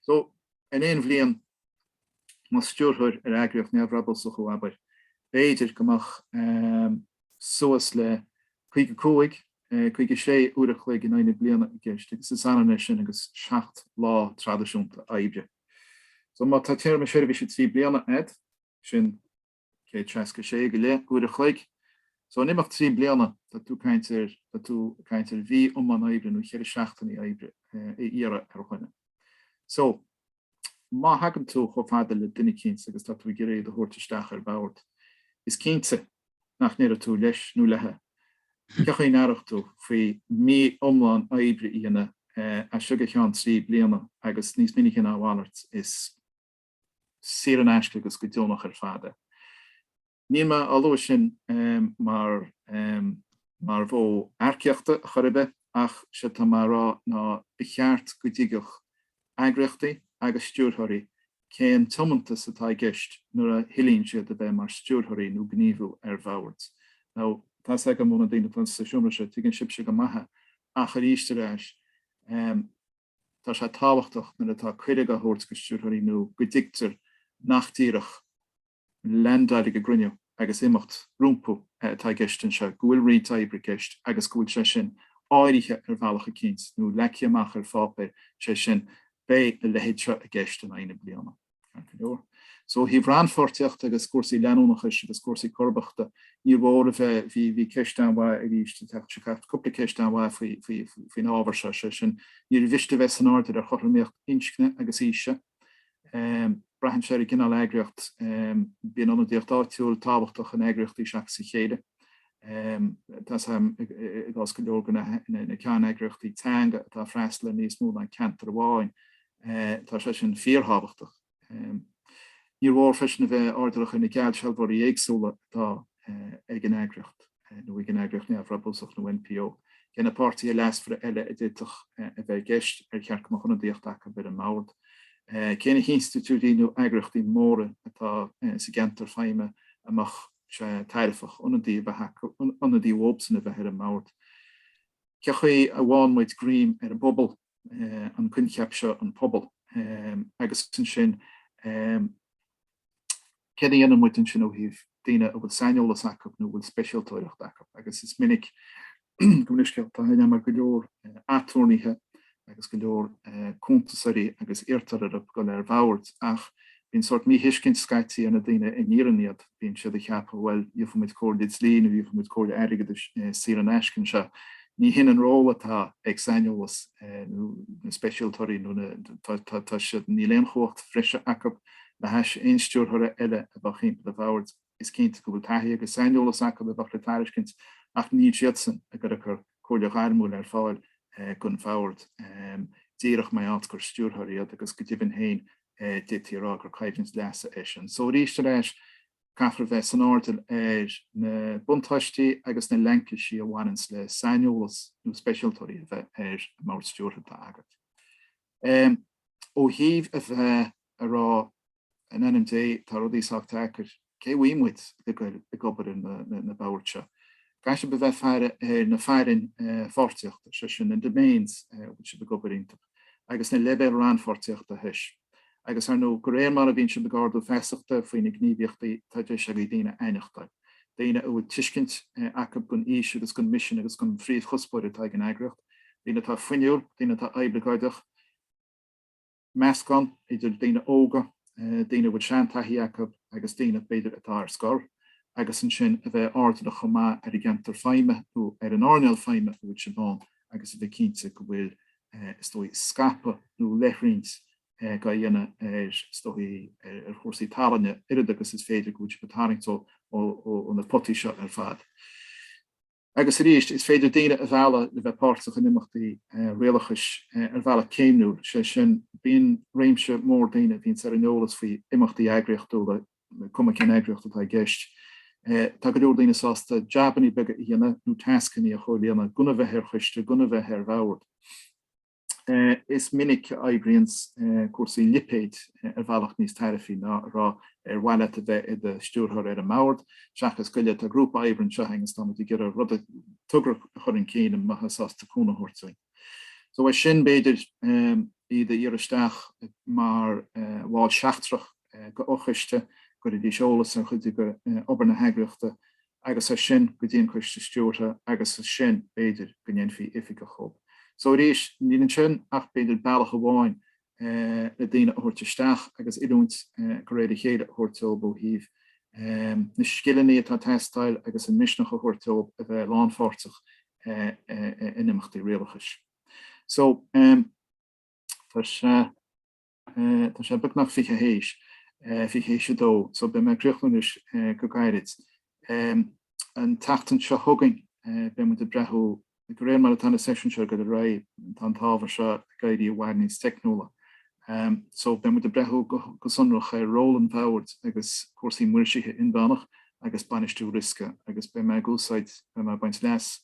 Speaker 1: So, in aon bhliain, más stiúrthóir ar eagraíocht neamhbhrabúsach thú, abair, b'fhéidir go mbeadh suas le 55, 56 uair a chloig in aghaidh na bliana i gceist, agus is ionann é sin agus seacht lá traidisiúnta oibre. So, má tá téarma seirbhíse trí bliana agat, sin. 166 go leith uair a chloig. So in imeacht trí bliana tá tú tá tú caint ar mhí iomlán oibre nó cheithre seachtainí oibre a iarraidh ar dhuine. So má thagann tú chomh fada le duine eicínt agus tá tú ag iarraidh iad a thabhairt isteach ar bord, is cinnte nach ndéarfadh tú leis nó léithe cé chaoi a n-aireodh tú faoi mhí iomlán oibre a dhéanamh as seo go ceann trí bliana agus níos minice ná a mhalairt is saor in aisce agus go deonach ar fad é. Níl mé á lua sin mar mhodh earcaíochta chor ar bith ach séard atá mé a rá ná ba cheart go dtuigfeadh eagraíochtaí agus stiúrthóirí cén tiomantas atá i gceist nuair a thoilíonn siad a bheith mar stiúrthóirí nó gníomhú ar bhoird. Now, tá fhios agam ó na daoine atá sa seomra seo, tuigeann sibhse go maith é ach arís ar ais, Tá sé tábhachtach nuair atá cuireadh á thabhairt go stiúrthóirí nua go dtuigtear nach díreach leaindeáil ag cruinniú agus imeacht rompu atá i gceist anseo, go bhfuil roinnt oibre i gceist agus go bhfuil sé sin áirithe ar bhealach eicínt nó leagtha amach ar pháipéar, sé sin, beidh a leithéid seo i gceist in aghaidh na bliana. Ó thaobh rannpháirtíochta agus cúrsaí leanúnachais agus cúrsaí comharbachta, níor mhór a bheith, bhí ceist an-mhaith arís, ag teacht seo ceart, cúpla ceist an-mhaith faoin ábhar seo, sé sin, níorbh mhiste a bheith san airdeall ar chothromaíocht inscne agus aoise. Braitheann sé ar an gcineál eagraíochta. Bíonn ionadaíocht áitiúil tábhachtach in eagraíochtaí seachas a chéile. Tá a fhios agam i gcás go leor go leor de na ceanneagraíochtaí teanga atá ag freastal ar níos mó ná ceantar amháin. Tá sé sin fíorthábhachtach. Níor mhór freisin a bheith airdeallach ar na geallsealbhóirí éagsúla atá ag an eagraíocht, nó ag an eagraíocht neamhbhrabúsach nó NPO. Cé na páirtithe leasmhara eile a d'fhéadfadh a bheith i gceist? Ar cheart go mbeadh ionadaíocht acu ar an mbord? Cé na hinstitiúidí nó eagraíochtaí móra atá sa gceantar feidhme a mbeadh sé tairbheach ionadaí a bheith acu, ionadaí uathusan a bheith ar an mbord? Cé chaoi a bhfaigheann muid greim ar an bpobal? an coincheap seo an pobal agus ansin céard a dhéanann muid ansin ó thaobh daoine a bhfuil saineolas acu nó a bhfuil speisialtóireacht acu agus is minic go mbíonn scéalta, tá aithne agam ar go leor aturnaetha agus go leor cuntasóirí agus iarrtar orthu dul ar bhoird ach Bíonn sórt míthuiscint scaití ar na daoine a n-iarrann iad, bíonn siad ag ceapadh, bhuel, gheofaimid comhairle dlí nó gheofaimid comhairle airgeadais saor in aisce anseo. Ní shin an ról atá ag saineolaithe nó na speisialtóirí nó na, tá siad, níl aon chumhacht bhreise acu le hais aon stiúrthóra eile a bheadh timpeall an bhoird. Is cinnte go bhfuil taithí agus saineolas acu a bheadh le tairiscint ach níl siadsan ag cur, cur comhairle ghairmiúil ar fáil don Bhord díreach mar gheall gur stiúrthóir iad agus go deimhin féin d'fhéadfaí a rá gur coimhlint leasa é sin. Só arís ar ais, caithfear bheith san airdeall ar na buntáistí agus na laincisí a bhaineanns le saineolaithe nó speisialtóirí a bheith ar an mBord Stiúrtha atá agat. Ó thaobh a bheith. a rá, in ainm Dé, tá rudaí sách deacair, cé a bhfaighidh muid le goil ar na boird seo? Caithfidh sibh a bheith ag faire ar na fearainn pháirtíochta, sé sin, na domains a bhfuil sibh ag obair iontu, agus na leibhéil rannpháirtíochta freisin. Agus, ar ndóigh, de réir mar a bhíonn sibh ag ardú feasachta faoi na gníomhaíochtaí, tá deis agaibh daoine a aithneachtáil, daoine a bhfuil tuiscint acu don fhís agus don mhisean agus don phríomhchuspóir atá ag an eagraíocht, daoine atá fuinniúil, daoine atá oibleagáideach. meascán idir daoine óga, daoine a bhfuil seantaithí acu agus daoine, b'fhéidir, atá ar scor, agus ansin a bheith airdeallach chomh maith ar an gceantar feidhme nó ar an earnáil feidhme a bhfuil sibh ann agus a bheith cinnte go bhfuil, is dóigh, scaipeadh nó leithroinnt á dhéanamh ar, is dóigh, ar chúrsaí tallainne, oiread agus is féidir, go bhfuil sibh ag tarraingt ó na potaí seo ar fad. Agus arís, is féidir daoine a mhealladh le bheith páirteach in imeachtaí rialachais ar bhealach céimniúil, sé sin, bíonn réimse mór daoine a bhíonns ar an eolas faoi imeachtaí eagraíochtúla, cuma cén eagraíocht atá i gceist. Tá go leor daoine sásta jabanna beaga a dhéanamh nó tascanna a chomhlíonadh, gan a bheith ar choiste, gan a bheith ar bhord. Is minic a oibríonns cúrsaí lipéid ar bhealach níos tairbhí ná a rá ar mhaith leat a bheith i do stiúrthóir ar an mbord, seachas gabh i leith. Tá grúpa oibre anseo againn agus táimid ag iarraidh rud, togra a chur chun cinn an mbeifeá sásta cúnamh a thabhairt dúinn. So as sin, b'fhéidir iad a iarraidh isteach mar bhall seachtrach go fochoiste, go gcuirfidís eolas ar chuid de obair na heagraíochta agus as sin go dtí an Coiste Stiúrtha agus as sin, b'fhéidir, go ndéanfaí oifigigh dhóibh. So, arís, níl ansin ach, b'fhéidir, bealach amháin le daoine a thabhairt isteach agus oiliúint de réir a chéile a thabhairt dóibh ó thaobh na scileanna atá ag teastáil agus an misneach a thabhairt dóibh a bheith lánpháirteach in imeachtaí rialachais. So, tá sé. Tá sé beagnach fiche th'éis, fiche th'éis a dó, so beidh mé ag críochnú anois go gairid. An tseachtain seo chugainn beidh muid ag breathnú, de réir mar atá na seisiúin seo ag dul ar aghaidh, tá an t-ábhar seo ag éirí i bhfad níos teicniúla. So beidh muid ag breathnú go sonrach ar ról an bhoird agus cúrsaí maoirsithe inmheánach agus bainistiú riosca agus beidh mé ag úsáid, beidh mé ag baint leas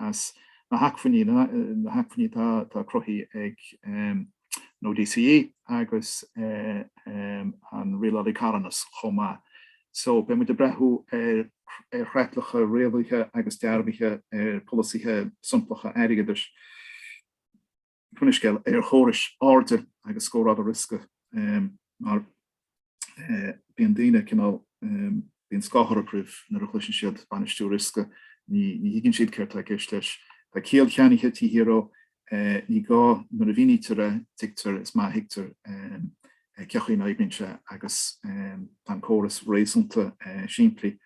Speaker 1: as na hacmhainní, na hacmhainní atá cruthaithe ag. nó DCE, agus an Rialálaí Carthanas chomh maith. So, beidh muid ag breathú ar chreatlacha rialaithe agus dearbhaithe ar pholasaithe somplacha airgeadais, cinn i scéal, ar chórais airde agus scórála riosca mar. Bíonn daoine cineál, bíonn scáth orthu roimhe nuair a chloiseann siad bainistiú riosca, ní thuigeann siad céard tá i gceist leis. Tá cead ceannaithe TV ar ó, ní gá, nuair a mhínítear é, tuigtear, is maith a thuigtear cé chaoi a n-oibríonn sé agus tá an córas réasúnta simplí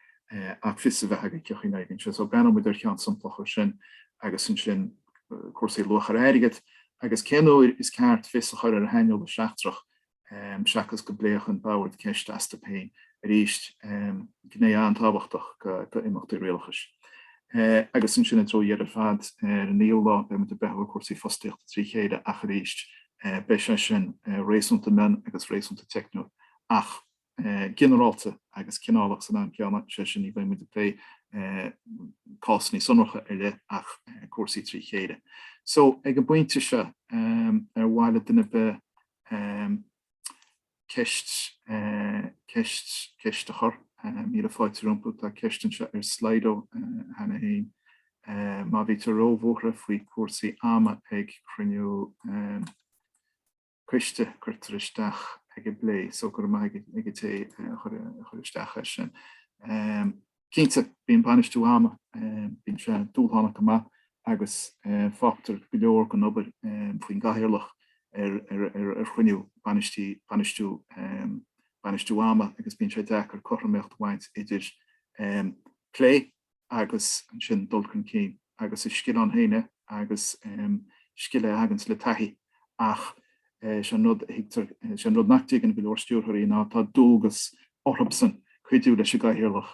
Speaker 1: ach fios a bheith agat cé chaoi a n-oibríonn sé. So breathnóidh muid ar cheann samplach dhó sin agus ansin cúrsaí luach ar airgid agus cén uair is ceart fios a chur ar shaineolaí seachtrach seachas go bpléadh an Bord ceist astu féin arís, gné an-tábhachtach d'imeachtaí rialachais. Agus ansin i dtreo dheireadh ar fad ar an naoú lá, beimid ag breathnú ar chúrsaí fostaíochta trí chéile ach arís, beidh sé sin réasúnta mion agus réasúnta teicniúil ach ginearálta agus cineálach san am céanna, sé sin, ní bheimid ag plé cásanna sonracha ar leith ach cúrsaí trí chéile. So, ag an bpointe seo, ar mhaith le duine bith Ceist, ceist, ceist a chur. Míle fáilte rompu, tá ceist anseo ar Slido cheana féin. Má bhítear róbhuartha faoi chúrsaí ama ag cruinniú coiste, cuirtear isteach ar an bplé. So, go raibh maith ag an, ag an té a chuir, a chuir isteach é sin. Cinnte, bíonn bainistiú ama, bíonn sé dúshlánach go maith agus fágtar go leor den obair faoin gcathaoirleach ar chruinniú bainistiú bainistiú ama agus bíonn sé deacair cothromaíocht a bhaint idir plé agus ansin dul chun cinn agus is scil ann féin é agus is scil é a thaganns le taithí ach Sé an rud a thuigtear, sé an rud nach dtuigeann go leor Stiúrthóirí ná tá dualgas orthubsan cuidiú leis an gCathaoirleach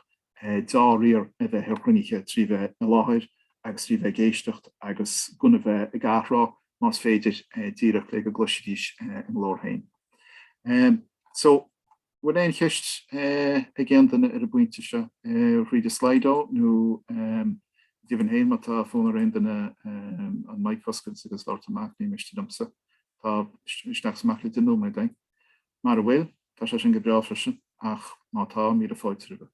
Speaker 1: dea-riar a bheith ar chruinnithe trí bheith i láthair agus trí bheith ag éisteacht agus gan a bheith ag athrá, más féidir, díreach le go gcloisfidís a nglór féin. So. bhfuil aon cheist ag aon duine ar an bpointe seo thríd an Slido nó go deimhin féin má tá fonn ar aon duine an mic a oscailt agus labhairt amach, ní miste liomsa. Tá isteach is amach le deich nóiméad againn. Mara bhfuil, tá sé sin go breá freisin, ach má tá, míle fáilte roimhe.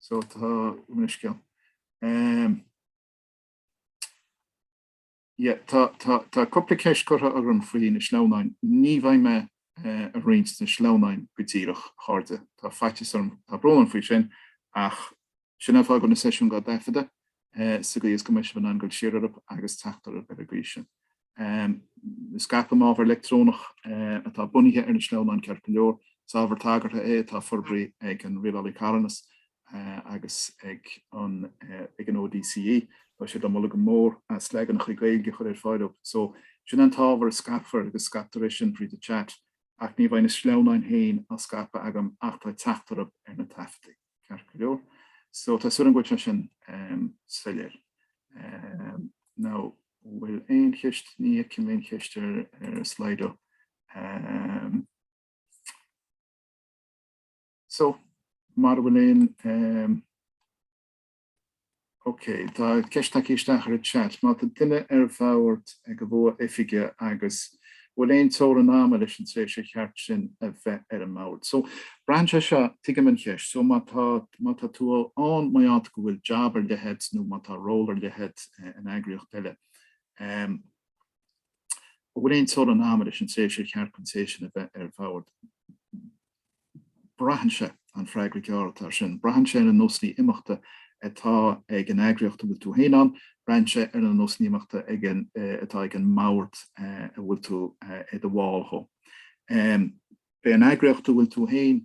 Speaker 1: So tá an scéal? Ie, tá, tá, tá cúpla ceist curtha orm faoi na sleamhnáin. Ní bheidh mé ag roinnt na sleamhnáin go díreach, a chairde. Tá faitíos orm, tá brón orm faoi sin, ach sin an fáth go bhfuil na seisiúin dhá dtaifeadadh sa gcaoi is go mbeidh sibh in ann dul siar orthu agus teacht orthu ar an gcaoi sin. Scaipfidh mé ábhar leictreonach atá bunaithe ar na sleamhnáin ceart go leor. Is ábhar tagartha é atá forbartha ag an Rialálaí Carthanas agus ag an ag an ODCE. Tá siad le moladh go mór as leaganacha Gaeilge a chur ar fáil díobh so, sin an t-ábhar a scaipfear agus scaipfear é sin fríd an chat ach ní bheidh na sleamhnáin féin á scaipeadh agam ach tá teacht agaibh ar na taifeadtaí, ceart go leor? So tá súil agam go bhfuil sé sin soiléir. Now bhfuil aon cheist, ní fheicim aon cheist ar Slido. So, mara bhfuil aon ehm, ok, tá ceist tagtha isteach ar an chat. Má tá duine ar bhord de bhua oifige an bhfuil aon teorainn ama leis an tréimhse ar cheart dó a bheith ar an mbord. So, braitheann sé seo, tuigim an cheist. So, má tá, má tá tú ann mar gheall go bhfuil jab ar leith agat nó má tá ról ar leith agat in eagraíocht eile, ehm, an bhfuil aon teorainn ama leis an tréimhse ar cheart don té sin a bheith ar bhord? Braitheann sé, an freagra gearr air sin, braitheann sé ar na nósanna imeachta atá ag an eagraíocht a bhfuil tú féin ann, braitheann sé ar na nósanna imeachta atá ag an mbord a bhfuil tú i do bhall dhe. B'fhéidir an eagraíocht a bhfuil tú féin.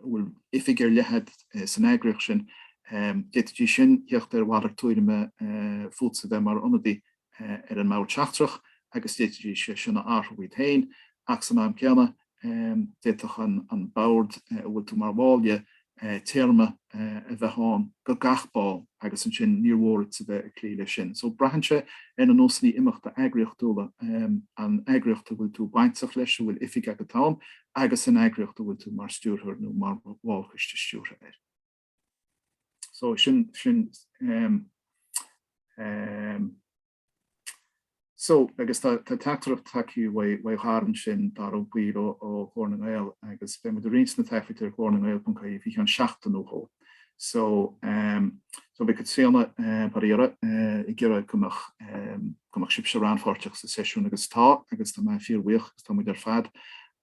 Speaker 1: bhfuil oifig ar leith agat san eagraíocht sin, d'fhéadfaidís sin a thíocht ar mhalairt tuairime fútsa bheith mar ionadaí ar an mbord seachtrach agus d'fhéadfaidís é sin a athrú iad féin, ach san am céanna, d'fhéadfadh an bord a bhfuil tú mar bhall dhe, téarma a bheith ann do gach ball agus ansin níor mhór duitse bheith ag cloí leis sin. So, braitheann sé ar na nósanna imeachta eagraíochtúla an eagraíocht a bhfuil tú bainteach leis, a bhfuil oifig agat ann, agus an eagraíocht a bhfuil tú mar stiúrthóir nó mar bhall coiste stiúrtha air. So sin, sin, ehm, ehm, so agus tá tá teachtaireacht tagthaí uaidh uaidh Dara ansin Dara buí ó ó Ghlór na nGael agus beidh muid ag roinnt na taifid ar glórnangael.ie faoi cheann seachtain nó dhó. So ehm so bhí cuid de seo ina pháirt eh ag iarraidh go mbeadh ehm go mbeadh sibhse rannpháirteach sa seisiún agus tá agus tá mé fíorbhuíoch agus tá muid ar fad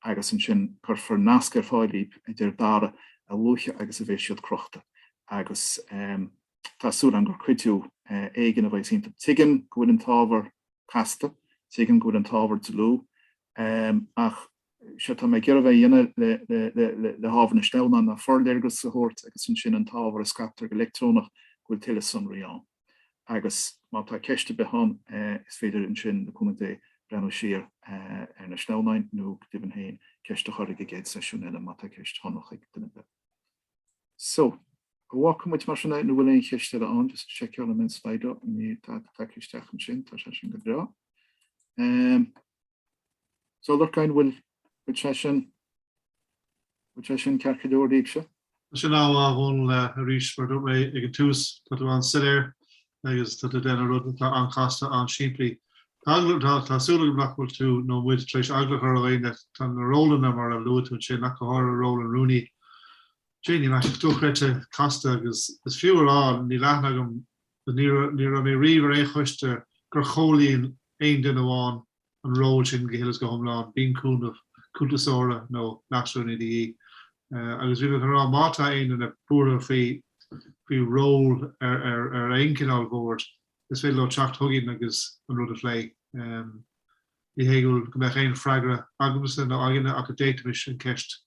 Speaker 1: agus ansin cuirfear nasc ar fáil dhaoibh a deir Dara a luaithe agus a bheidh siad crochta agus ehm tá súil agam gur cuidiú eh éigin a bheidh iontu. Tuigim go bhfuil an t-ábhar casta, tuigim go bhfuil an t-ábhar dlúth ehm ach séard atá mé ag iarraidh a bheith ag déanamh le hábhar na sleamhnán ná forléargas a thabhairt agus ansin an t-ábhar a scaiptear go leictreonach go bhfuil tuilleadh sonraí ann. Agus má tá ceist ar bith ann, is féidir ansin le cúnamh Dé breathnú siar ar na sleamhnáin nó, go deimhin féin, ceist a chur ag an gcéad seisiún eile má tá ceist shonrach ag duine ar bith. So, a bhfágfaidh muid mar sin é nó bhfuil aon cheist eile ann, just seiceáil an mbeadh Slido, níl tada isteach ansin, tá sé sin go breá. Um, So a Lorcáin bhfuil bhfuil sé sin bhfuil sé sin ceart go leor daoibhse? Tá sé an-mhaith a
Speaker 2: Dhónaill arís mar dúirt mé ag an tús, tá tú an-soiléir agus tá tú déanamh rud atá an-chasta, an-simplí. Tá tá tá súil agam nach bhfuil tú nó muid tar éis eagla a chur ar dhaoine, tá na rólanna mar a luaigh tú ansin, nach go háirithe ról an Rúnaí déanaim amach dochreidte casta agus is fiú a rá, níl aithne agam Ní raibh mé riamh ar aon choiste gur chomhlíon aon duine amháin an ról sin go huile is go hiomlán, bíonn cúnamh cuntasóra nó leasrúnaí de dhíth. Agus bhí mé chun a rá, má tá aon duine buartha faoi ról ar aon chineál boird, is féidir leo teacht chugainn agus an rud a phlé. Ní hé go mbeadh aon freagra agamsa nó againne ach d'fhéadfaimis an cheist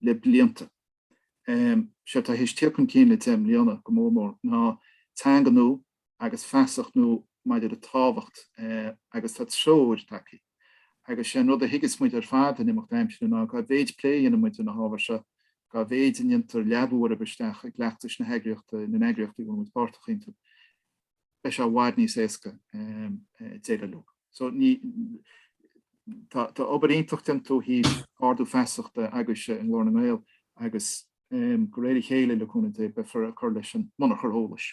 Speaker 1: le blianta. Sé atá théis teacht chun cinn le deich mbliana, go mór mór, ná teanga nua agus feasacht nua maidir le tábhacht agus tá treoir tagtha. Agus sé an rud a thuigeas muid ar fad in imeacht aimsire ná dá mhéid plé a dhéanann muid ar na hábhair seo, dá mhéid a ndéantar leabú orthu isteach i gcleachtais na heagraíochta, na n-eagraíochtaí a bhfuil muid páirteach iontu, beidh sé i bhfad níos éasca déileáil leo. So tá obair iontach déanta ó thaobh ardú feasachta agaibhse i nGlór na nGael agus de réir a chéile, le cúnamh Dé, beifear ag cur leis an mbunachar eolais.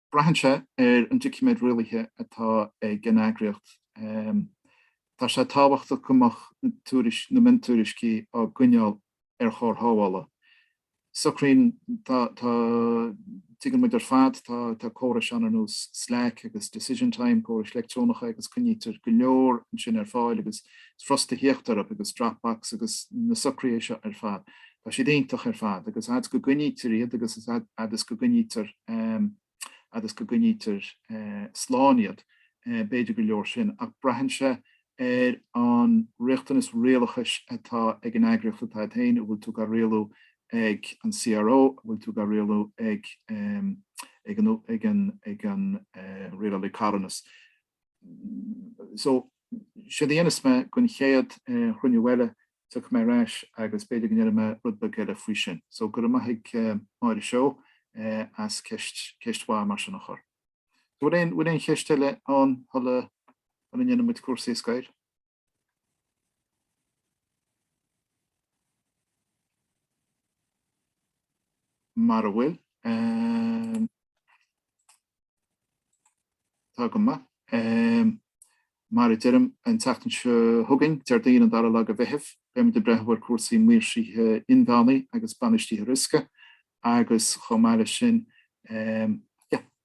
Speaker 1: Braitheann sé ar an doiciméad rialaithe atá ag an eagraíocht. Tá sé tábhachtach go mbeadh na miontuairiscí á gcoinneáil ar chóir shábhála. Socraíonn tá tá tuigeann muid ar fad tá tá córais ann ar nós Slack agus Decision Time, córais leictreonacha agus coinnítear go leor ansin ar fáil agus is furasta theacht orthu agus Dropbox agus na socruithe seo ar fad. Tá siad iontach ar fad, agus fhad 's go gcoinnítear iad agus is fhad is go gcoinnítear fhad is go gcoinnítear slán iad, b'fhéidir gur leor sin, ach braitheann sé ar an riachtanas rialachais atá ag an eagraíocht atá agat féin, an bhfuil tú á rialú ag an CRO, an bhfuil tú á rialú ag an rialálaí carthanas. so séard a dhéanfas mé don chéad chruinniú eile tiocfaidh mé ar ais agus b'fhéidir go ndéanfaidh mé rud beag eile faoi sin. So go raibh maith ag Máire Seó as ceist ceist mhaith mar sin a chur. So bhfuil aon bhfuil aon cheist eile ann shula shula ndéanfaidh muid cúrsaí a scor? Mara bhfuil, tá go maith. Mar a deirim an tseachtain seo chugainn, Déardaoin an dara lá de Mheitheamh, beidh muid ag breathnú ar cúrsaí maoirsithe inmheánaí agus bainistithe riosca agus chomh maith leis sin,